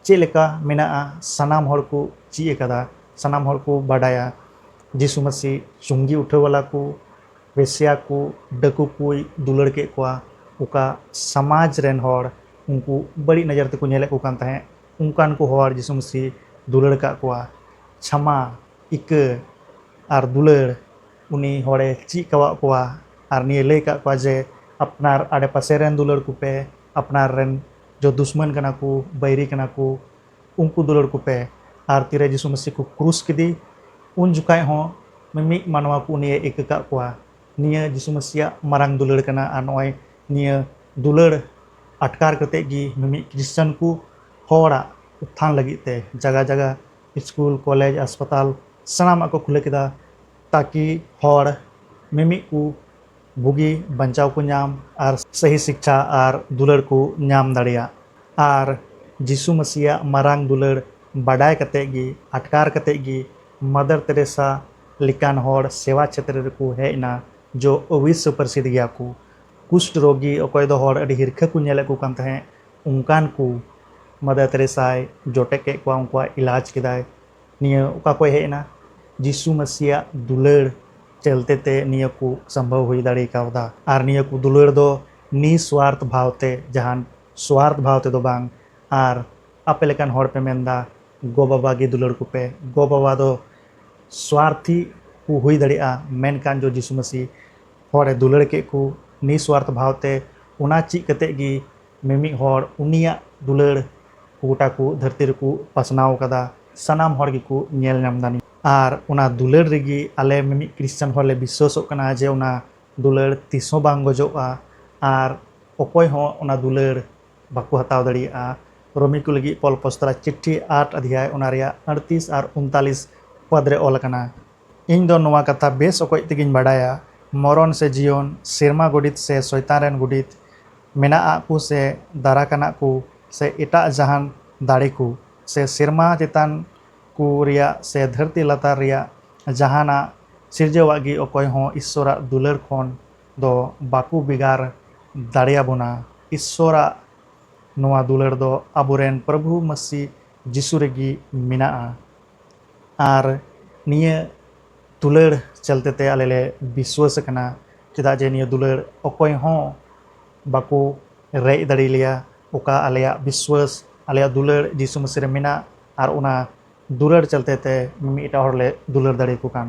ᱪᱮᱫ ᱞᱮᱠᱟ ᱢᱮᱱᱟᱜᱼᱟ ᱥᱟᱱᱟᱢ ᱦᱚᱲ ᱠᱚ ᱪᱮᱫ ᱟᱠᱟᱫᱟ ᱥᱟᱱᱟᱢ ᱦᱚᱲ ᱠᱚ ᱵᱟᱰᱟᱭᱟ ᱡᱤᱥᱩ ᱢᱟᱹᱥᱤ ᱪᱩᱝᱜᱤ ᱩᱴᱷᱟᱹᱣ ᱵᱟᱞᱟ ᱠᱚ ᱵᱮᱥᱭᱟ ᱠᱚ ᱰᱟᱹᱠᱩ ᱠᱚᱭ ᱫᱩᱞᱟᱹᱲ ᱠᱮᱫ ᱠᱚᱣᱟ ᱚᱠᱟ ᱥᱚᱢᱟᱡᱽ ᱨᱮᱱ ᱦᱚᱲ ᱩᱱᱠᱩ ᱵᱟᱹᱲᱤᱡ ᱱᱚᱡᱚᱨ ᱛᱮᱠᱚ ᱧᱮᱞᱮᱫ ᱠᱚ ᱠᱟᱱ ᱛᱟᱦᱮᱸᱫ ᱚᱱᱠᱟᱱ ᱠᱚ ᱦᱚᱲ ᱡᱤᱥᱩ ᱢᱟᱥᱤ ᱫᱩᱞᱟᱹᱲ ᱟᱠᱟᱫ ᱠᱚᱣᱟ ᱪᱷᱟᱢᱟ ᱤᱠᱟᱹ ᱟᱨ ᱫᱩᱞᱟᱹᱲ ᱩᱱᱤ ᱦᱚᱲᱮ ᱪᱮᱫ ᱠᱟᱣᱟᱫ ᱠᱚᱣᱟ ᱟᱨ ᱱᱤᱭᱟᱹ ᱞᱟᱹᱭ ᱟᱠᱟᱫ ᱠᱚᱣᱟ ᱡᱮ ᱟᱯᱱᱟᱨ ᱟᱰᱮ ᱯᱟᱥᱮ ᱨᱮᱱ ᱫᱩᱞᱟᱹᱲ ᱠᱚᱯᱮ ᱟᱯᱱᱟᱨ ᱨᱮᱱ ᱡᱚ ᱫᱩᱥᱢᱟᱱ ᱠᱟᱱᱟ ᱠᱚ ᱵᱟᱹᱭᱨᱤ ᱠᱟᱱᱟ ᱠᱚ ᱩᱱᱠᱩ ᱫᱩᱞᱟᱹᱲ ᱠᱚᱯᱮ ᱟᱨ ᱛᱤᱨᱮ ᱡᱤᱥᱩ ᱢᱟᱥᱤ ᱠᱚ ᱠᱨᱩᱥ ᱠᱮᱫᱮ ᱩᱱ ᱡᱚᱠᱷᱟᱡ ᱦᱚᱸ ᱢᱤᱢᱤᱫ ᱢᱟᱱᱣᱟ ᱠᱚ ᱩᱱᱤᱭᱮ ᱤᱠᱟᱹ ᱠᱟᱫ ᱠᱚᱣᱟ ᱱᱤᱭᱟᱹ ᱡᱤᱥᱩ ᱢᱟᱥᱤᱭᱟᱜ ᱢᱟᱨᱟᱝ ᱫᱩᱞᱟᱹᱲ ᱠᱟᱱᱟ ᱟᱨ ᱱᱚᱜᱼᱚᱭ ᱱᱤᱭᱟᱹ ᱫᱩᱞᱟᱹᱲ ᱟᱴᱠᱟᱨ ᱠᱟᱛᱮᱫ ᱜᱮ ᱢᱤᱢᱤᱫ ᱠᱷᱨᱤᱥᱴᱟᱱ ᱠᱚ ᱦᱚᱲᱟᱜ ᱩᱛᱛᱷᱟᱱ ᱞᱟᱹᱜᱤᱫ ᱛᱮ ᱡᱟᱭᱜᱟ ᱡᱟᱭᱜᱟ ᱥᱠᱩᱞ ᱠᱚᱞᱮᱡᱽ ᱦᱟᱥᱯᱟᱛᱟᱞ ᱥᱟᱱᱟᱢᱟᱜ ᱠᱚ ᱠᱷᱩᱞᱟᱹᱣ ᱠᱮᱫᱟ ᱛᱟᱠᱤ ᱦᱚᱲ ᱢᱤᱢᱤᱫ ᱠᱚ ᱵᱩᱜᱤ ᱵᱟᱧᱪᱟᱣ ᱠᱚ ᱧᱟᱢ ᱟᱨ ᱥᱟᱹᱦᱤ ᱥᱤᱠᱠᱷᱟ ᱟᱨ ᱫᱩᱞᱟᱹᱲ ᱠᱚ ᱧᱟᱢ ᱫᱟᱲᱮᱭᱟᱜ ᱟᱨ ᱡᱤᱥᱩ ᱢᱟᱹᱥᱤᱭᱟᱜ ᱢᱟᱨᱟᱝ ᱫᱩᱞᱟᱹᱲ ᱵᱟᱰᱟᱭ ᱠᱟᱛᱮᱫ ᱜᱮ ᱟᱴᱠᱟᱨ ᱠᱟᱛᱮᱫ ᱜᱮ ᱢᱟᱫᱟᱨ ᱛᱮᱨᱮᱥᱟ ᱞᱮᱠᱟᱱ ᱦᱚᱲ ᱥᱮᱵᱟ ᱪᱷᱮᱛᱨᱚ ᱨᱮᱠᱚ ᱦᱮᱡ ᱮᱱᱟ ᱡᱚ ᱚᱵᱤᱥᱥᱚ ᱯᱨᱚᱥᱤᱫᱷ ᱜᱮᱭᱟ ᱠᱚ ᱠᱩᱥᱴ ᱨᱳᱜᱤ ᱚᱠᱚᱭ ᱫᱚ ᱦᱚᱲ ᱟᱹᱰᱤ ᱦᱤᱨᱠᱷᱟᱹ ᱠᱚ ᱧᱮᱞᱮᱫ ᱠᱚ ᱠᱟᱱ ᱛᱟᱦᱮᱸᱫ ᱚᱱᱠᱟᱱ ᱠᱚ ᱢᱟᱫᱟᱨ ᱛᱮᱨᱮᱥᱟᱭ ᱡᱚᱴᱮᱫ ᱠᱮᱫ ᱠᱚᱣᱟ ᱩᱱᱠᱩᱣᱟᱜ ᱤᱞᱟᱡᱽ ᱠᱮᱫᱟᱭ ᱱᱤᱭᱟᱹ ᱚᱠᱟ ᱠᱷᱚᱱ ᱦᱮᱡ ᱮᱱᱟ ᱡᱤᱥᱩ ᱢᱟᱹᱥᱤᱭᱟᱜ ᱫᱩᱞᱟᱹᱲ ᱪᱟᱹᱞᱛᱮ ᱛᱮ ᱱᱤᱭᱟᱹ ᱠᱚ ᱥᱚᱢᱵᱷᱚᱵ ᱦᱩᱭ ᱫᱟᱲᱮ ᱠᱟᱣᱫᱟ ᱟᱨ ᱱᱤᱭᱟᱹ ᱠᱚ ᱫᱩᱞᱟᱹᱲ ᱫᱚ ᱱᱤᱥᱣᱟᱨᱛᱷ ᱵᱷᱟᱣ ᱛᱮ ᱡᱟᱦᱟᱱ ᱥᱣᱟᱨᱛᱷ ᱵᱷᱟᱣ ᱛᱮᱫᱚ ᱵᱟᱝ ᱟᱨ ᱟᱯᱮ ᱞᱮᱠᱟᱱ ᱦᱚᱲ ᱯᱮ ᱢᱮᱱ ᱮᱫᱟ ᱜᱚ ᱵᱟᱵᱟ ᱜᱮ ᱫᱩᱞᱟᱹᱲ ᱠᱚᱯᱮ ᱜᱚ ᱵᱟᱵᱟ ᱫᱚ ᱥᱣᱟᱨᱛᱷᱤ ᱠᱚ ᱦᱩᱭ ᱫᱟᱲᱮᱭᱟᱜᱼᱟ ᱢᱮᱱᱠᱷᱟᱱ ᱫᱚ ᱡᱤᱥᱩ ᱢᱟᱹᱥᱤ ᱦᱚᱲ ᱮ ᱫᱩᱞᱟᱹᱲ ᱠᱮᱫ ᱠᱚ ᱱᱤᱥᱣᱟᱨᱛᱷ ᱵᱷᱟᱣ ᱛᱮ ᱚᱱᱟ ᱪᱮᱫ ᱠᱟᱛᱮᱫ ᱜᱮ ᱢᱤᱢᱤᱫ ᱦᱚᱲ ᱩᱱᱤᱭᱟᱜ ᱫᱩᱞᱟᱹᱲ ᱜᱚᱴᱟ ᱠᱚ ᱫᱷᱟᱹᱨᱛᱤ ᱨᱮᱠᱚ ᱯᱟᱥᱱᱟᱣ ᱟᱠᱟᱫᱟ ᱥᱟᱱᱟᱢ ᱦᱚᱲ ᱜᱮᱠᱚ ᱧᱮᱞ ᱧᱟᱢ ᱮᱫᱟ ᱟᱨ ᱚᱱᱟ ᱫᱩᱞᱟᱹᱲ ᱨᱮᱜᱮ ᱟᱞᱮ ᱢᱤᱢᱤᱫ ᱠᱨᱤᱥᱪᱟᱱ ᱦᱚᱲ ᱞᱮ ᱵᱤᱥᱣᱟᱥᱚᱜ ᱠᱟᱱᱟ ᱡᱮ ᱚᱱᱟ ᱫᱩᱞᱟᱹᱲ ᱛᱤᱥ ᱦᱚᱸ ᱵᱟᱝ ᱜᱚᱡᱚᱜᱼᱟ ᱟᱨ ᱚᱠᱚᱭ ᱦᱚᱸ ᱚᱱᱟ ᱫᱩᱞᱟᱹᱲ ᱵᱟᱠᱚ ᱦᱟᱛᱟᱣ ᱫᱟᱲᱮᱭᱟᱜᱼᱟ ᱨᱳᱢᱤ ᱠᱚ ᱞᱟᱹᱜᱤᱫ ᱯᱚᱞ ᱯᱚᱥᱛᱨᱟ ᱪᱤᱴᱷᱤ ᱟᱴ ᱟᱫᱷᱭᱟᱭ ᱚᱱᱟ ᱨᱮᱭᱟᱜ ᱟᱹᱲᱛᱤᱥ ᱟᱨ ᱩᱱᱛᱟᱞᱤᱥ ᱯᱚᱫᱽ ᱨᱮ ᱚᱞ ᱟᱠᱟᱱᱟ ᱤᱧ ᱫᱚ ᱱᱚᱣᱟ ᱠᱟᱛᱷᱟ ᱵᱮᱥ ᱚᱠᱚᱡ ᱛᱮᱜᱮᱧ ᱵᱟᱰᱟᱭᱟ ᱢᱚᱨᱚᱱ ᱥᱮ ᱡᱤᱭᱚᱱ, ᱥᱮᱨᱢᱟ ᱜᱚᱰᱤᱛ ᱥᱮ ᱥᱚᱭᱛᱟᱱ ᱨᱮᱱ ᱜᱚᱰᱤᱛ, ᱢᱮᱱᱟᱜ ᱟᱜ ᱠᱚ ᱥᱮ ᱫᱟᱨᱟᱠᱟᱱᱟᱜ ᱠᱚ ᱥᱮ ᱮᱴᱟᱜ ᱡᱟᱦᱟᱱ ᱫᱟᱲᱮ ᱠᱚ ᱥᱮ ᱥᱮᱨᱢᱟ ᱪᱮᱛᱟᱱ ᱠᱚ ᱨᱮᱭᱟᱜ ᱥᱮ ᱫᱷᱟᱹᱨᱛᱤ ᱞᱟᱛᱟᱨ ᱨᱮᱭᱟᱜ ᱡᱟᱦᱟᱱᱟᱜ ᱥᱤᱨᱡᱟᱹᱣᱟᱜ ᱜᱮ ᱚᱠᱚᱭ ᱦᱚᱸ ᱤᱥᱥᱚᱨᱟᱜ ᱫᱩᱞᱟᱹᱲ ᱠᱷᱚᱱ ᱫᱚ ᱵᱟᱠᱚ ᱵᱮᱜᱟᱨ ᱫᱟᱲᱮᱭᱟᱵᱚᱱᱟ᱾ ᱤᱥᱥᱚᱨᱟᱜ ᱱᱚᱣᱟ ᱫᱩᱞᱟᱹᱲ ᱫᱚ ᱟᱵᱚᱨᱮᱱ ᱯᱨᱚᱵᱷᱩ ᱢᱟᱹᱥᱤ ᱡᱤᱥᱩ ᱨᱮᱜᱮ ᱢᱮᱱᱟᱜᱼᱟ᱾ ᱟᱨ ᱱᱤᱭᱟᱹ ᱫᱩᱞᱟᱹᱲ ᱪᱟᱞᱛᱮ ᱛᱮ ᱟᱞᱮ ᱞᱮ ᱵᱤᱥᱣᱟᱹᱥ ᱟᱠᱟᱱᱟ ᱪᱮᱫᱟᱜ ᱡᱮ ᱱᱤᱭᱟᱹ ᱫᱩᱞᱟᱹᱲ ᱚᱠᱚᱭ ᱦᱚᱸ ᱵᱟᱠᱚ ᱨᱮᱡ ᱫᱟᱲᱮ ᱟᱞᱮᱭᱟ ᱚᱠᱟ ᱟᱞᱮᱭᱟᱜ ᱵᱤᱥᱣᱟᱹᱥ ᱟᱞᱮᱭᱟᱜ ᱫᱩᱞᱟᱹᱲ ᱡᱤᱥᱩ ᱢᱟᱹᱥᱤ ᱨᱮ ᱢᱮᱱᱟᱜ ᱟᱨ ᱚᱱᱟ ᱫᱩᱞᱟᱹᱲ ᱪᱟᱞᱛᱮ ᱛᱮ ᱢᱤᱢᱤᱫᱴᱟᱝ ᱦᱚᱲ ᱞᱮ ᱫᱩᱞᱟᱹᱲ ᱫᱟᱲᱮ ᱟᱠᱚ ᱠᱟᱱ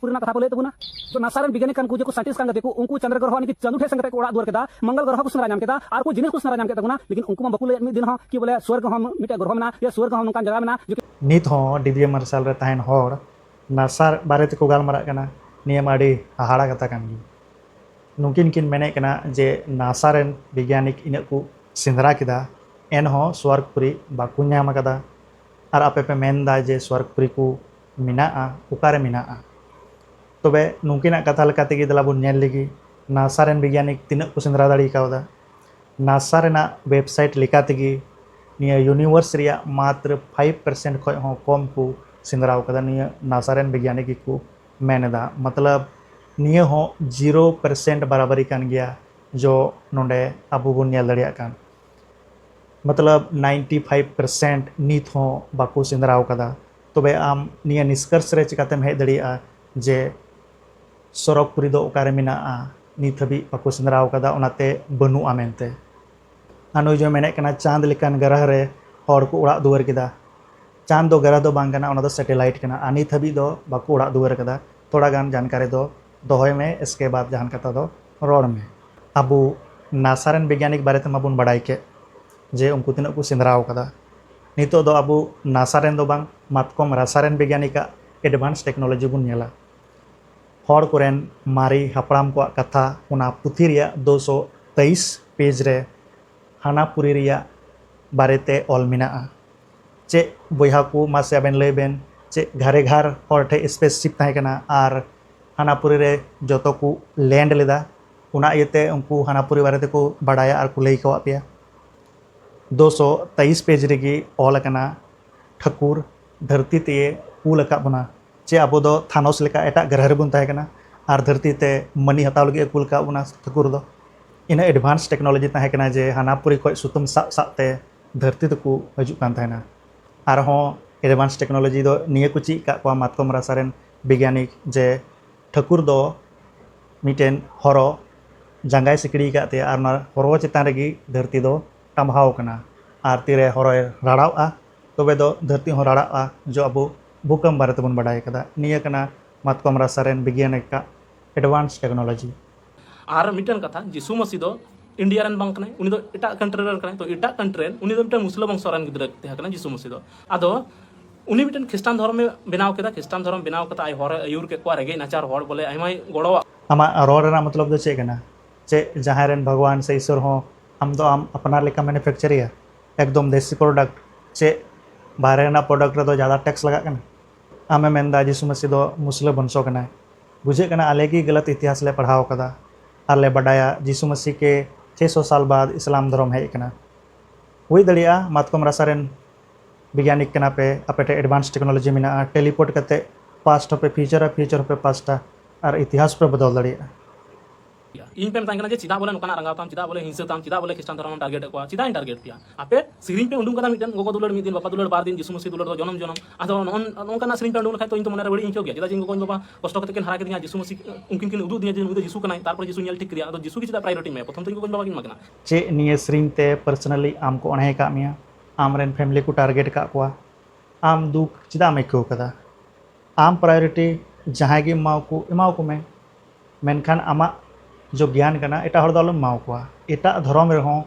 ᱯᱩᱨᱱᱟ ᱠᱟᱛᱷᱟ ᱠᱚ ᱞᱟᱹᱭ ᱛᱟᱵᱚᱱᱟ ᱛᱚ ᱱᱟᱥᱟ ᱨᱮᱱ ᱵᱤᱜᱽᱭᱟᱱᱤᱠ ᱠᱟᱱ ᱠᱚ ᱡᱮᱠᱚ ᱥᱟᱭᱮᱱᱴᱤᱥᱴ ᱠᱟᱱ ᱠᱟᱛᱮ ᱠᱚ ᱩᱱᱠᱩ ᱪᱟᱸᱫᱽᱨᱚ ᱜᱨᱚᱦᱚ ᱱᱤᱠᱤ ᱪᱟᱸᱫᱩ ᱴᱷᱮᱡ ᱥᱮᱱ ᱠᱟᱛᱮ ᱠᱚ ᱚᱲᱟᱜ ᱫᱩᱣᱟᱹᱨ ᱠᱮᱫᱟ ᱢᱚᱝᱜᱚᱞ ᱜᱨᱚᱦᱚ ᱠᱚ ᱥᱮᱸᱫᱽᱨᱟ ᱧᱟᱢ ᱠᱮᱫᱟ ᱟᱨ ᱠᱚ ᱡᱤᱱᱤᱥ ᱠᱚ ᱥᱮᱸᱫᱽᱨᱟ ᱧᱟᱢ ᱠᱮᱫ ᱛᱟᱵᱚᱱᱟ ᱞᱮᱠᱤᱱ ᱩᱱᱠᱩ ᱢᱟ ᱵᱟᱠᱚ ᱞᱟᱹᱭᱮᱫ ᱢᱤᱫ ᱫᱤᱱ ᱦᱚᱸ ᱠᱤ ᱵᱚᱞᱮ ᱥᱩᱣᱟᱨᱜ ᱦᱚᱸ ᱢᱤᱫᱴᱮᱡ ᱜᱨᱚᱦᱚ ᱢᱮᱱᱟᱜᱼᱟ ᱥᱮ ᱥᱩᱣᱟᱨᱜ ᱦᱚᱸ ᱱᱚᱝᱠᱟᱱ ᱡᱟᱭᱜᱟ ᱢᱮᱱᱟᱜᱼᱟ ᱡᱮ ᱱᱤᱛ ᱦᱚᱸ ᱰᱤᱵᱤᱭᱮ ᱢᱟᱨᱥᱟᱞ ᱨᱮ ᱛᱟᱦᱮᱱ ᱦᱚᱲ ᱱᱟᱥᱟ ᱵᱟᱨᱮ ᱛᱮᱠᱚ ᱜᱟᱞᱢᱟᱨᱟᱜ ᱠᱟᱱᱟ ᱱᱤᱭᱟᱹ ᱢᱟ ᱟᱹᱰᱤ ᱦᱟᱦᱟᱲᱟ ᱠᱟᱛᱷᱟ ᱠᱟᱱ ᱜᱮ ᱱᱩᱠᱤᱱ ᱠᱤᱱ ᱢᱮᱱᱮᱫ ᱠᱟᱱᱟ ᱡᱮ ᱱᱟᱥᱟ ᱨᱮᱱ ᱵᱤᱜᱽᱭᱟᱱᱤᱠ ᱤᱱᱟᱹᱜ ᱠᱚ ᱥᱮᱸᱫᱽᱨᱟ ᱠᱮᱫᱟ ᱮᱱᱦᱚᱸ ᱥᱩᱣᱟᱨᱜᱽᱯᱩᱨᱤ ᱵᱟᱠᱚ ᱧᱟᱢ ᱟᱠᱟᱫᱟ ᱟᱨ ᱟᱯᱮ ᱯᱮ ᱢᱮᱱᱫᱟ ᱡᱮ ᱥᱩᱣᱟᱨᱜᱽᱯᱩᱨᱤ ᱠᱚ ᱢᱮᱱᱟᱜᱼᱟ ᱚᱠᱟᱨᱮ ᱢᱮᱱᱟᱜᱼᱟ ᱛᱚᱵᱮ ᱱᱩᱠᱤᱱᱟᱜ ᱠᱟᱛᱷᱟ ᱞᱮᱠᱟᱛᱮ ᱜᱮ ᱫᱮᱞᱟ ᱵᱚᱱ ᱧᱮᱞ ᱞᱮᱜᱮ ᱱᱟᱥᱟ ᱨᱮᱱ ᱵᱤᱜᱽᱜᱟᱱᱤᱠ ᱛᱤᱱᱟᱹᱜ ᱠᱚ ᱥᱮᱸᱫᱽᱨᱟ ᱫᱟᱲᱮ ᱠᱟᱣᱫᱟ ᱱᱟᱥᱟ ᱨᱮᱱᱟᱜ ᱳᱭᱮᱵᱽᱥᱟᱭᱤᱴ ᱞᱮᱠᱟ ᱛᱮᱜᱮ ᱱᱤᱭᱟᱹ ᱭᱩᱱᱤᱵᱷᱟᱨᱥ ᱨᱮᱭᱟᱜ ᱢᱟᱛᱨᱚ ᱯᱷᱟᱭᱤᱵᱽ ᱯᱟᱨᱥᱮᱱᱴ ᱠᱷᱚᱱ ᱦᱚᱸ ᱠᱚᱢ ᱠᱚ ᱥᱮᱸᱫᱽᱨᱟ ᱟᱠᱟᱫᱟ ᱱᱤᱭᱟᱹ ᱱᱟᱥᱟ ᱨᱮᱱ ᱵᱤᱜᱽᱜᱟᱱᱤᱠ ᱜᱮᱠᱚ ᱢᱮᱱ ᱮᱫᱟ ᱢᱚᱛᱞᱚᱵᱽ ᱱᱤᱭᱟᱹ ᱦᱚᱸ ᱡᱤᱨᱳ ᱯᱟᱨᱥᱮᱱᱴ ᱵᱟᱨᱟᱵᱟᱨᱤ ᱠᱟᱱ ᱜᱮᱭᱟ ᱡᱚ ᱱᱚᱰᱮ ᱟᱵᱚ ᱵᱚᱱ ᱧᱮᱞ ᱫᱟᱲᱮᱭᱟᱜ ᱠᱟᱱ ᱢᱚᱛᱞᱚᱵᱽ ᱱᱟᱭᱤᱱᱴᱤ ᱯᱷᱟᱭᱤᱵᱽ ᱯᱟᱨᱥᱮᱱᱴ ᱱᱤᱛ ᱦᱚᱸ ᱵᱟᱠᱚ ᱥᱮᱸᱫᱽᱨᱟ ᱟᱠᱟᱫᱟ ᱛᱚᱵᱮ ᱟᱢ ᱱᱤᱭᱟᱹ ᱱᱤᱥᱠᱚᱨᱥ ᱨᱮ ᱪᱤᱠᱟᱹᱛᱮᱢ ᱦᱮᱡ ᱫᱟᱲᱮᱭᱟᱜᱼᱟ ᱡᱮ ᱥᱚᱨᱚᱜᱽ ᱯᱩᱨᱤ ᱫᱚ ᱚᱠᱟᱨᱮ ᱢᱮᱱᱟᱜᱼᱟ ᱱᱤᱛ ᱦᱟᱹᱵᱤᱡ ᱵᱟᱠᱚ ᱥᱮᱸᱫᱽᱨᱟ ᱟᱠᱟᱫᱟ ᱚᱱᱟᱛᱮ ᱵᱟᱹᱱᱩᱜᱼᱟ ᱢᱮᱱᱛᱮ ᱟᱨ ᱱᱩᱭ ᱫᱚᱭ ᱢᱮᱱᱮᱫ ᱠᱟᱱᱟ ᱪᱟᱸᱫᱽ ᱞᱮᱠᱟᱱ ᱜᱨᱚᱦᱚ ᱨᱮ ᱦᱚᱲ ᱠᱚ ᱚᱲᱟᱜ ᱫᱩᱣᱟᱹᱨ ᱠᱮᱫᱟ ᱪᱟᱸᱫᱽ ᱫᱚ ᱜᱨᱚᱦᱚ ᱫᱚ ᱵᱟᱝ ᱠᱟᱱᱟ ᱚᱱᱟ ᱫᱚ ᱥᱮᱴᱮᱞᱟᱭᱤᱴ ᱠᱟᱱᱟ ᱟᱨ ᱱᱤᱛ ᱦᱟᱹᱵᱤᱡ ᱫᱚ ᱵᱟᱠᱚ ᱚᱲᱟᱜ ᱫᱩᱣᱟᱹᱨ ᱟᱠᱟᱫᱟ ᱛᱷᱚᱲᱟ ᱜᱟᱱ ᱡᱟᱱᱠᱟᱨᱤ ᱫᱚ ᱫᱚᱦᱚᱭ ᱢᱮ ᱮᱥᱠᱮ ᱵᱟᱫᱽ ᱡᱟᱦᱟᱱ ᱠᱟᱛᱷᱟ ᱫᱚ ᱨᱚᱲ ᱢᱮ ᱟᱵᱚ ᱱᱟᱥᱟ ᱨᱮᱱ ᱵᱤᱜᱽᱜᱟᱱᱤᱠ ᱵᱟᱨᱮ ᱛᱮᱢᱟ ᱵᱚᱱ ᱵᱟᱲᱟᱭ ᱠᱮᱫ ᱡᱮ ᱩᱱᱠᱩ ᱛᱤᱱᱟᱹᱜ ᱠᱚ ᱥᱮᱸᱫᱽᱨᱟ ᱟᱠᱟᱫᱟ ᱱᱤᱛᱚᱜ ᱫᱚ ᱟᱵᱚ ᱱᱟᱥᱟ ᱨᱮᱱ ᱫᱚ ᱵᱟᱝ ᱢᱟᱛᱠᱚᱢ ᱨᱟᱥᱟ ᱨᱮᱱ ᱵᱤᱜᱽᱭᱟᱱᱤᱠ ᱟᱜ ᱮᱰᱵᱷᱟᱱᱥ ᱴᱮᱠᱱᱳᱞᱚᱡᱤ ᱵᱚᱱ ᱧᱮᱞᱟ᱾ ᱦᱚᱲ ᱠᱚᱨᱮᱱ ᱢᱟᱨᱮ ᱦᱟᱯᱲᱟᱢ ᱠᱚᱣᱟᱜ ᱠᱟᱛᱷᱟ ᱚᱱᱟ ᱯᱩᱛᱷᱤ ᱨᱮᱭᱟᱜ ᱫᱩ ᱥᱚ ᱛᱮᱭᱤᱥ ᱯᱮᱡᱽ ᱨᱮ ᱦᱟᱱᱟᱯᱩᱨᱤ ᱨᱮᱭᱟᱜ ᱵᱟᱨᱮ ᱛᱮ ᱚᱞ ᱢᱮᱱᱟᱜᱼᱟ᱾ ᱪᱮ ᱵᱚᱭᱦᱟ ᱠᱚ ᱢᱟᱥᱮ ᱟᱵᱮᱱ ᱞᱟᱹᱭ ᱵᱮᱱ ᱪᱮ ᱜᱷᱟᱨᱮ ᱜᱷᱟᱨ ᱦᱚᱲ ᱴᱷᱮᱡ ᱥᱯᱮᱥ ᱥᱤᱯ ᱛᱟᱦᱮᱸ ᱠᱟᱱᱟ ᱟᱨ ᱦᱟᱱᱟᱯᱩᱨᱤ ᱨᱮ ᱡᱚᱛᱚ ᱠᱚ ᱞᱮᱱᱰ ᱞᱮᱫᱟ᱾ ᱚᱱᱟ ᱤᱭᱟᱹ ᱛᱮ ᱩᱱᱠᱩ ᱦᱟᱱᱟᱯᱩᱨᱤ ᱵᱟᱨᱮ ᱛᱮᱠᱚ ᱵᱟᱰᱟᱭᱟ ᱟᱨ ᱠᱚ ᱞᱟᱹᱭ ᱠᱟᱣᱟᱫ ᱯᱮᱭᱟ᱾ ᱫᱩ ᱥᱚ ᱛᱮᱭᱤᱥ ᱯᱮᱡᱽ ᱨᱮᱜᱮ ᱚᱞ ᱟᱠᱟᱱᱟ ᱴᱷᱟᱹᱠᱩᱨ ᱫᱷᱟᱹᱨᱛᱤ ᱛᱮᱭᱮ ᱠᱩᱞ ᱟᱠᱟᱫ ᱵᱚᱱᱟ ᱪᱮ ᱟᱵᱚ ᱫᱚ ᱛᱷᱟᱱᱚᱥ ᱞᱮᱠᱟ ᱮᱴᱟᱜ ᱜᱨᱚᱦᱚ ᱨᱮᱵᱚᱱ ᱛᱟᱦᱮᱸ ᱠᱟᱱᱟ ᱟᱨ ᱫᱷᱟᱹᱨᱛᱤ ᱛᱮ ᱢᱟᱹᱱᱤ ᱦᱟᱛᱟᱣ ᱞᱟᱹᱜᱤᱫ ᱮ ᱠᱩᱞ ᱟᱠᱟᱫ ᱵᱚᱱᱟ ᱴᱷᱟᱹᱠᱩᱨ ᱫᱚ ᱤᱱᱟᱹᱜ ᱮᱰᱵᱷᱟᱱᱥ ᱴᱮᱠᱱᱳᱞᱳᱡᱤ ᱛᱟᱦᱮᱸ ᱠᱟᱱᱟ ᱡᱮ ᱦᱟᱱᱟ ᱯᱩᱨᱤ ᱠᱷᱚᱱ ᱥᱩᱛᱟᱹᱢ ᱥᱟᱵ ᱥᱟᱵ ᱛᱮ ᱫᱷᱟᱹᱨᱛᱤ ᱛᱮᱠᱚ ᱦᱤᱡᱩᱜ ᱠᱟᱱ ᱛᱟᱦᱮᱱᱟ ᱟᱨᱦᱚᱸ ᱮᱰᱵᱷᱟᱱᱥ ᱴᱮᱠᱱᱳᱞᱳᱡᱤ ᱫᱚ ᱱᱤᱭᱟᱹ ᱠᱚ ᱪᱮᱫ ᱟᱠᱟᱫ ᱠᱚᱣᱟ ᱢᱟᱛᱠᱚᱢ ᱨᱟᱥᱟ ᱨᱮᱱ ᱵᱤᱜᱽᱜᱟᱱᱤᱠ ᱡᱮ ᱴᱷᱟᱹᱠᱩᱨ ᱫᱚ ᱢᱤᱫᱴᱮᱱ ᱦᱚᱨᱚ ᱡᱟᱸᱜᱟᱭ ᱥᱤᱠᱲᱤ ᱟᱠᱟᱫ ᱛᱟᱭᱟ ᱟᱨ ᱚᱱᱟ ᱦᱚᱨᱚ ᱪᱮᱛᱟᱱ ᱨᱮᱜᱮ ᱫᱷᱟᱹᱨᱛᱤ ᱫᱚ ᱴᱟᱢᱵᱷᱟᱣ ᱟᱠᱟᱱᱟ ᱟᱨ ᱛᱤᱨᱮ ᱦᱚᱨᱚᱭ ᱨᱟᱲᱟᱣᱚᱜᱼᱟ ᱛᱚᱵᱮ ᱫᱚ ᱫᱷᱟᱹᱨᱛᱤ ᱦᱚᱸ ᱨᱟᱲᱟᱜᱼᱟ ᱡᱮ ᱟᱵᱚ ᱵᱷᱩᱠᱟᱢ ᱵᱟᱨᱮ ᱛᱮᱵᱚᱱ ᱵᱟᱰᱟᱭ ᱟᱠᱟᱫᱟ ᱱᱤᱭᱟᱹ ᱠᱟᱱᱟ ᱢᱟᱛᱠᱚᱢ ᱨᱟᱥᱟ ᱨᱮᱱ ᱵᱤᱜᱽᱜᱟᱱᱤᱠᱟᱜ ᱮᱰᱵᱷᱟᱱᱥ ᱴᱮᱠᱱᱳᱞᱳᱡᱤ ᱟᱨ ᱢᱤᱫᱴᱟᱝ ᱠᱟᱛᱷᱟ ᱡᱤᱥᱩ ᱢᱟᱹᱥᱤ ᱫᱚ ᱤᱱᱰᱤᱭᱟ ᱨᱮᱱ ᱵᱟᱝ ᱠᱟᱱᱟᱭ ᱩᱱᱤ ᱫᱚ ᱮᱴᱟᱜ ᱠᱟᱱᱴᱨᱤ ᱨᱮᱱ ᱠᱟᱱᱟᱭ ᱛᱚ ᱮᱴᱟᱜ ᱠᱟᱱᱴᱨᱤ ᱨᱮᱱ ᱩᱱᱤ ᱫᱚ ᱢᱤᱫᱴᱟᱝ ᱢᱩᱥᱞᱟᱹ ᱵᱚᱝᱥᱚ ᱨᱮᱱ ᱜᱤᱫᱽᱨᱟᱹ ᱛᱟᱦᱮᱸ ᱠᱟᱱᱟ ᱡᱤᱥᱩ ᱢᱟᱹᱥᱤ ᱫᱚ ᱟᱫᱚ ᱩᱱᱤ ᱢᱤᱫᱴᱟᱝ ᱠᱷᱨᱤᱥᱴᱟᱱ ᱫᱷᱚᱨᱢᱮ ᱵᱮᱱᱟᱣ ᱠᱮᱫᱟ ᱠᱷᱨᱤᱥᱴᱟᱱ ᱫᱷᱚᱨᱚᱢ ᱵᱮᱱᱟᱣ ᱠᱟᱛᱮ ᱟᱡ ᱦᱚᱨᱮ ᱟᱹᱭᱩᱨ ᱠᱮᱫ ᱠᱚᱣᱟ ᱨᱮᱸᱜᱮᱡ ᱱᱟᱪᱟᱨ ᱦᱚᱲ ᱵᱚᱞᱮ ᱟᱭᱢᱟᱭ ᱜᱚᱲᱚᱣᱟᱜ ᱟᱢᱟᱜ ᱨᱚᱲ ᱨᱮᱱᱟᱜ ᱢᱚᱛᱞᱚᱵ ᱫᱚ ᱪᱮᱫ ᱠᱟᱱᱟ ᱪᱮᱫ ᱡᱟᱦᱟᱸᱭ ᱨᱮᱱ ᱵᱷᱟᱜᱽᱣᱟᱱ ᱥᱮ ᱤᱥᱚᱨ ᱦᱚᱸ ᱟᱢ ᱫᱚ ᱟᱢ ᱟᱯᱱᱟᱨ ᱞᱮᱠᱟ ᱢᱮᱱᱩᱯᱷᱮᱠᱪᱟᱨᱮᱭᱟ ᱮᱠᱫᱚᱢ ᱫᱮᱥᱤ ᱯᱨᱚᱰᱟᱠᱴ ᱪᱮᱫ ᱵᱟᱦᱨᱮ ᱨᱮᱱᱟᱜ ᱯᱨᱚᱰᱟᱠᱴ ᱨᱮᱫᱚ ᱡᱟᱫᱟ ᱴᱮᱠᱥ ᱞᱟᱜᱟᱜ ᱠᱟᱱᱟ ᱟᱢᱮᱢ ᱢᱮᱱᱫᱟ ᱡᱤᱥᱩ ᱢᱟᱹᱥᱤ ᱫᱚ ᱢᱩᱥᱞᱟᱹ ᱵᱚᱝᱥᱚ ᱠᱟᱱᱟᱭ ᱵᱩᱡᱷᱟᱹᱜ ᱠᱟᱱᱟ ᱟᱞᱮ ᱜᱮ ᱜᱟᱞᱟᱛ ᱤᱛᱤᱦᱟᱥ ᱞᱮ ᱯᱟᱲᱦᱟᱣ ᱟᱠᱟᱫᱟ ᱟᱨ ᱞᱮ ᱵᱟᱰᱟᱭᱟ ᱡᱤᱥᱩ ᱢᱟᱥᱤ ᱠᱮ ᱪᱷᱮ ᱥᱚ ᱥᱟᱞ ᱵᱟᱫᱽ ᱤᱥᱞᱟᱢ ᱫᱷᱚᱨᱚᱢ ᱦᱮᱡ ᱟᱠᱟᱱᱟ᱾ ᱦᱩᱭ ᱫᱟᱲᱮᱭᱟᱜᱼᱟ ᱢᱟᱛᱠᱚᱢ ᱨᱟᱥᱟ ᱨᱮᱱ ᱵᱤᱜᱭᱟᱱᱤᱠ ᱠᱟᱱᱟ ᱯᱮ, ᱟᱯᱮ ᱴᱷᱮᱱ ᱮᱰᱵᱷᱟᱱᱥ ᱴᱮᱠᱱᱚᱞᱚᱡᱤ ᱢᱮᱱᱟᱜᱼᱟ, ᱴᱮᱞᱤᱯᱳᱨᱴ ᱠᱟᱛᱮ ᱯᱟᱥᱴ ᱦᱚᱸ ᱯᱮ ᱯᱷᱤᱭᱩᱪᱚᱨᱟ, ᱯᱷᱤᱭᱩᱪᱚᱨ ᱦᱚᱸ ᱯᱮ ᱯᱟᱥᱴᱟ ᱟᱨ ᱤᱛᱤᱦᱟᱥ ᱦᱚᱸ ᱯᱮ ᱵᱚᱫᱚᱞ ᱫᱟᱲᱮᱭᱟᱜᱼᱟ᱾ ᱤᱧ ᱯᱮ ᱢᱮᱛᱟᱧ ᱠᱟᱱᱟ ᱡᱮ ᱪᱮᱫᱟᱜ ᱵᱚᱞᱮ ᱱᱚᱝᱠᱟᱱᱟᱜ ᱨᱟᱸᱜᱟᱣ ᱛᱟᱢ ᱪᱮᱫᱟᱜ ᱵᱚᱞᱮ ᱦᱤᱝᱥᱟᱹ ᱛᱟᱢ ᱪᱮᱫᱟᱜ ᱵᱚᱞᱮ ᱠᱷᱨᱤᱥᱴᱟᱱ ᱫᱷᱚᱨᱚᱢ ᱴᱟᱨᱜᱮᱴ ᱮᱫ ᱠᱚᱣᱟ ᱪᱮᱫᱟᱜ ᱤᱧ ᱴᱟᱨᱜᱮᱴ ᱯᱮᱭᱟ ᱟᱯᱮ ᱥᱮᱨᱮᱧ ᱯᱮ ᱩᱰᱩᱝ ᱠᱟᱫᱟ ᱢᱤᱫᱴᱮᱱ ᱜᱚᱜᱚ ᱫᱩᱞᱟᱹᱲ ᱢᱤᱫ ᱫᱤᱱ ᱵᱟᱵᱟ ᱫᱩᱞᱟᱹᱲ ᱵᱟᱨ ᱫᱤᱱ ᱡᱤᱥᱩ ᱢᱟᱹᱥᱤ ᱫᱩᱞᱟᱹᱲ ᱫᱚ ᱡᱚᱱᱚᱢ ᱡᱚᱱᱚᱢ ᱟᱫᱚ ᱱᱚᱝᱠᱟᱱᱟᱜ ᱥᱮᱨᱮᱧ ᱯᱮ ᱩᱰᱩᱝ ᱞᱮᱠᱷᱟᱡ ᱛᱚ ᱤᱧ ᱛᱚ ᱢᱚᱱᱮᱨᱮ ᱵᱟᱹᱲᱤᱡ ᱤᱧ ᱟᱹᱭᱠᱟᱹᱣ ᱜᱮᱭᱟ ᱪᱮᱫᱟᱜ ᱡᱮ ᱤᱧ ᱜᱚᱜᱚ ᱤᱧ ᱵᱟᱵᱟ ᱠᱚᱥᱴᱚ ᱠᱟᱛᱮ ᱠᱤᱱ ᱦᱟᱨᱟ ᱠᱤᱫᱤᱧᱟ ᱡᱤᱥᱩ ᱢᱟᱹᱥᱤ ᱩᱱᱠᱤᱱ ᱠᱤᱱ ᱩᱫᱩᱜ ᱫᱤᱧᱟ ᱡᱮ ᱱᱩᱭ ᱫᱚ ᱡᱤᱥᱩ ᱠᱟᱱᱟᱭ ᱛᱟᱨᱯᱚᱨ ᱡᱤᱥᱩ ᱧᱮᱞ ᱴᱷᱤᱠ ᱠᱮᱫᱮᱭᱟ ᱟᱫᱚ ᱡᱤᱥᱩ ᱜᱮ ᱪᱮᱫᱟᱜ ᱯᱨᱟᱭᱳᱨᱤᱴᱤ ᱮᱢᱟᱭᱟ ᱯᱨᱚᱛᱷᱚᱢ ᱛᱮ ᱤᱧ ᱜᱚᱜᱚ ᱤᱧ ᱵᱟᱵᱟ ᱠᱤᱱ ᱮᱢᱟ ᱠᱤᱱᱟ ᱪᱮᱫ ᱱᱤᱭᱟᱹ ᱥᱮᱨᱮᱧ ᱛᱮ ᱯᱟᱨᱥᱚᱱᱟᱞᱤ ᱟᱢ ᱠᱚ ᱚᱬᱦᱮ ᱟᱠᱟᱫ ᱢᱮᱭᱟ ᱟᱢ ᱨᱮᱱ ᱯᱷᱮᱢᱤᱞᱤ ᱠᱚ ᱴᱟᱨᱜᱮᱴ ᱟᱠᱟᱫ ᱠᱚᱣᱟ ᱟᱢ ᱫᱩᱠ ᱪᱮᱫᱟᱜ ᱮᱢ ᱟᱹᱭᱠᱟᱹᱣ ᱠᱟᱫᱟ ᱟᱢ ᱯᱨᱟᱭᱳᱨᱤᱴᱤ ᱡᱟᱦᱟᱸᱭ ᱜᱮ ᱮᱢᱟᱣᱟᱠᱚ ᱮᱢᱟᱣᱟᱠᱚ ᱢᱮ ᱢᱮᱱᱠᱷᱟᱱ ᱟᱢᱟᱜ ᱡᱚ ᱜᱮᱭᱟᱱ ᱠᱟᱱᱟ ᱮᱴᱟᱜ ᱦᱚᱲ ᱫᱚ ᱟᱞᱚᱢ ᱮᱢᱟᱣ ᱠᱚᱣᱟ᱾ ᱮᱴᱟᱜ ᱫᱷᱚᱨᱚᱢ ᱨᱮᱦᱚᱸ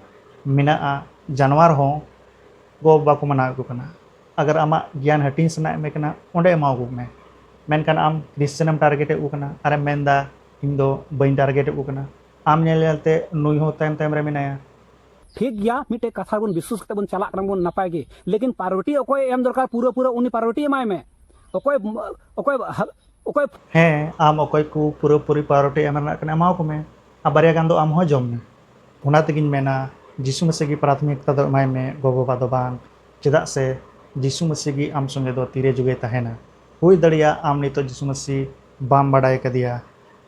ᱢᱮᱱᱟᱜᱼᱟ ᱡᱟᱱᱣᱟᱨ ᱦᱚᱸ ᱜᱚ ᱵᱟᱵᱟ ᱠᱚ ᱢᱟᱱᱟᱣᱮᱫ ᱠᱚ ᱠᱟᱱᱟ᱾ ᱟᱜᱟᱨ ᱟᱢᱟᱜ ᱜᱮᱭᱟᱱ ᱦᱟᱹᱴᱤᱧ ᱥᱟᱱᱟᱭᱮᱫ ᱢᱮ ᱠᱟᱱᱟ ᱚᱸᱰᱮ ᱮᱢᱟᱣ ᱠᱚ ᱢᱮ᱾ ᱢᱮᱱᱠᱷᱟᱱ ᱟᱢ ᱠᱨᱤᱥᱪᱟᱱ ᱮᱢ ᱴᱟᱨᱜᱮᱴ ᱮᱫ ᱠᱚ ᱠᱟᱱᱟ ᱟᱨᱮᱢ ᱢᱮᱱ ᱮᱫᱟ ᱤᱧ ᱫᱚ ᱵᱟᱹᱧ ᱴᱟᱨᱜᱮᱴ ᱮᱫ ᱠᱚ ᱠᱟᱱᱟ᱾ ᱟᱢ ᱧᱮᱞ ᱧᱮᱞ ᱛᱮ ᱱᱩᱭ ᱦᱚᱸ ᱛᱟᱭᱚᱢ ᱛᱟᱭᱚᱢ ᱨᱮ ᱢᱮᱱᱟᱭᱟ᱾ ᱴᱷᱤᱠ ᱜᱮᱭᱟ ᱢᱤᱫᱴᱮᱡ ᱠᱟᱛᱷᱟ ᱨᱮᱵᱚᱱ ᱵᱤᱥᱣᱟᱹᱥ ᱠᱟᱛᱮ ᱵᱚᱱ ᱪᱟᱞᱟᱜ ᱠᱟᱱᱟ ᱵᱚᱱ ᱱᱟᱯᱟᱭ ᱜᱮ ᱞᱮᱠᱤᱱ ᱯᱟᱨᱣᱮᱴᱤ ᱚᱠᱚᱭ ᱮᱢ ᱫᱚᱨᱠᱟᱨ ᱯᱩᱨᱟᱹ ᱯᱩᱨᱟᱹ ᱩᱱᱤ ᱯᱟᱨᱣᱮᱴᱤ ᱮᱢᱟᱭ ᱢᱮ᱾ ᱚᱠᱚᱭ ᱚᱠᱚᱭ ᱚᱠᱚᱭ ᱦᱮᱸ ᱟᱢ ᱚᱠᱚᱭ ᱠᱚ ᱯᱩᱨᱟᱹ ᱯᱩᱨᱤ ᱯᱟᱣᱨᱚᱴᱤ ᱮᱢ ᱨᱮᱱᱟᱜ ᱠᱟᱱᱟ ᱮᱢᱟᱣ ᱠᱚ ᱢᱮ ᱟᱨ ᱵᱟᱨᱭᱟ ᱜᱟᱱ ᱫᱚ ᱟᱢ ᱦᱚᱸ ᱡᱚᱢ ᱢᱮ ᱚᱱᱟ ᱛᱮᱜᱤᱧ ᱢᱮᱱᱟ ᱡᱤᱥᱩ ᱢᱮᱥᱤ ᱜᱮ ᱯᱨᱟᱛᱷᱚᱢᱤᱠᱛᱟ ᱫᱚ ᱮᱢᱟᱭ ᱢᱮ ᱜᱚ ᱵᱟᱵᱟ ᱫᱚ ᱵᱟᱝ ᱪᱮᱫᱟᱜ ᱥᱮ ᱡᱤᱥᱩ ᱢᱮᱥᱤ ᱜᱮ ᱟᱢ ᱥᱚᱸᱜᱮ ᱫᱚ ᱛᱤᱨᱮ ᱡᱩᱜᱮ ᱛᱟᱦᱮᱱᱟ ᱦᱩᱭ ᱫᱟᱲᱮᱭᱟᱜᱼᱟ ᱟᱢ ᱱᱤᱛᱚᱜ ᱡᱤᱥᱩ ᱢᱮᱥᱤ ᱵᱟᱢ ᱵᱟᱰᱟᱭ ᱠᱟᱫᱮᱭᱟ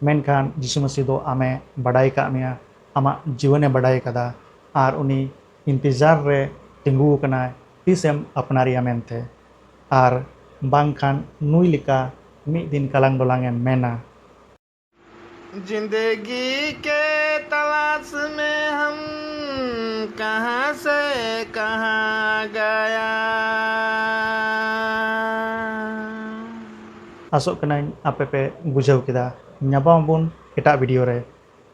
ᱢᱮᱱᱠᱷᱟᱱ ᱡᱤᱥᱩ ᱢᱮᱥᱤ ᱫᱚ ᱟᱢᱮ ᱵᱟᱰᱟᱭ ᱠᱟᱜ ᱢᱮᱭᱟ ᱟᱢᱟᱜ ᱡᱤᱭᱚᱱᱮ ᱵᱟᱰᱟᱭ ᱠᱟᱫᱟ ᱟᱨ ᱩᱱᱤ ᱤᱱᱛᱤᱡᱟᱨ ᱨᱮ ᱛᱤᱸᱜᱩ ᱟᱠᱟᱱᱟᱭ ᱛᱤᱥ ᱮᱢ ᱟᱯᱱᱟᱨᱮᱭᱟ ᱢᱮᱱᱛᱮ᱾ ᱟᱨ ᱵᱟᱝ ᱠᱷᱟᱱ ᱱᱩᱭ ᱞᱮᱠᱟ ᱢᱤᱫ ᱫᱤᱱ ᱠᱟᱞᱟᱝ ᱰᱚᱞᱟᱝ ᱮᱢ ᱢᱮᱱᱟ᱾ ᱡᱤᱱᱫᱮᱜᱤ ᱠᱮ ᱛᱟᱞᱟᱥ ᱢᱮᱸ ᱦᱟᱢ ᱠᱟᱦᱟᱸ ᱥᱮ ᱠᱟᱦᱟᱸ ᱜᱟᱭᱟ᱾ ᱟᱥᱚᱜ ᱠᱟᱹᱱᱟᱹᱧ ᱟᱯᱮ ᱯᱮ ᱵᱩᱡᱷᱟᱹᱣ ᱠᱮᱫᱟ᱾ ᱧᱟᱯᱟᱢ ᱟᱵᱚᱱ ᱮᱴᱟᱜ ᱵᱷᱤᱰᱤᱭᱳ ᱨᱮ᱾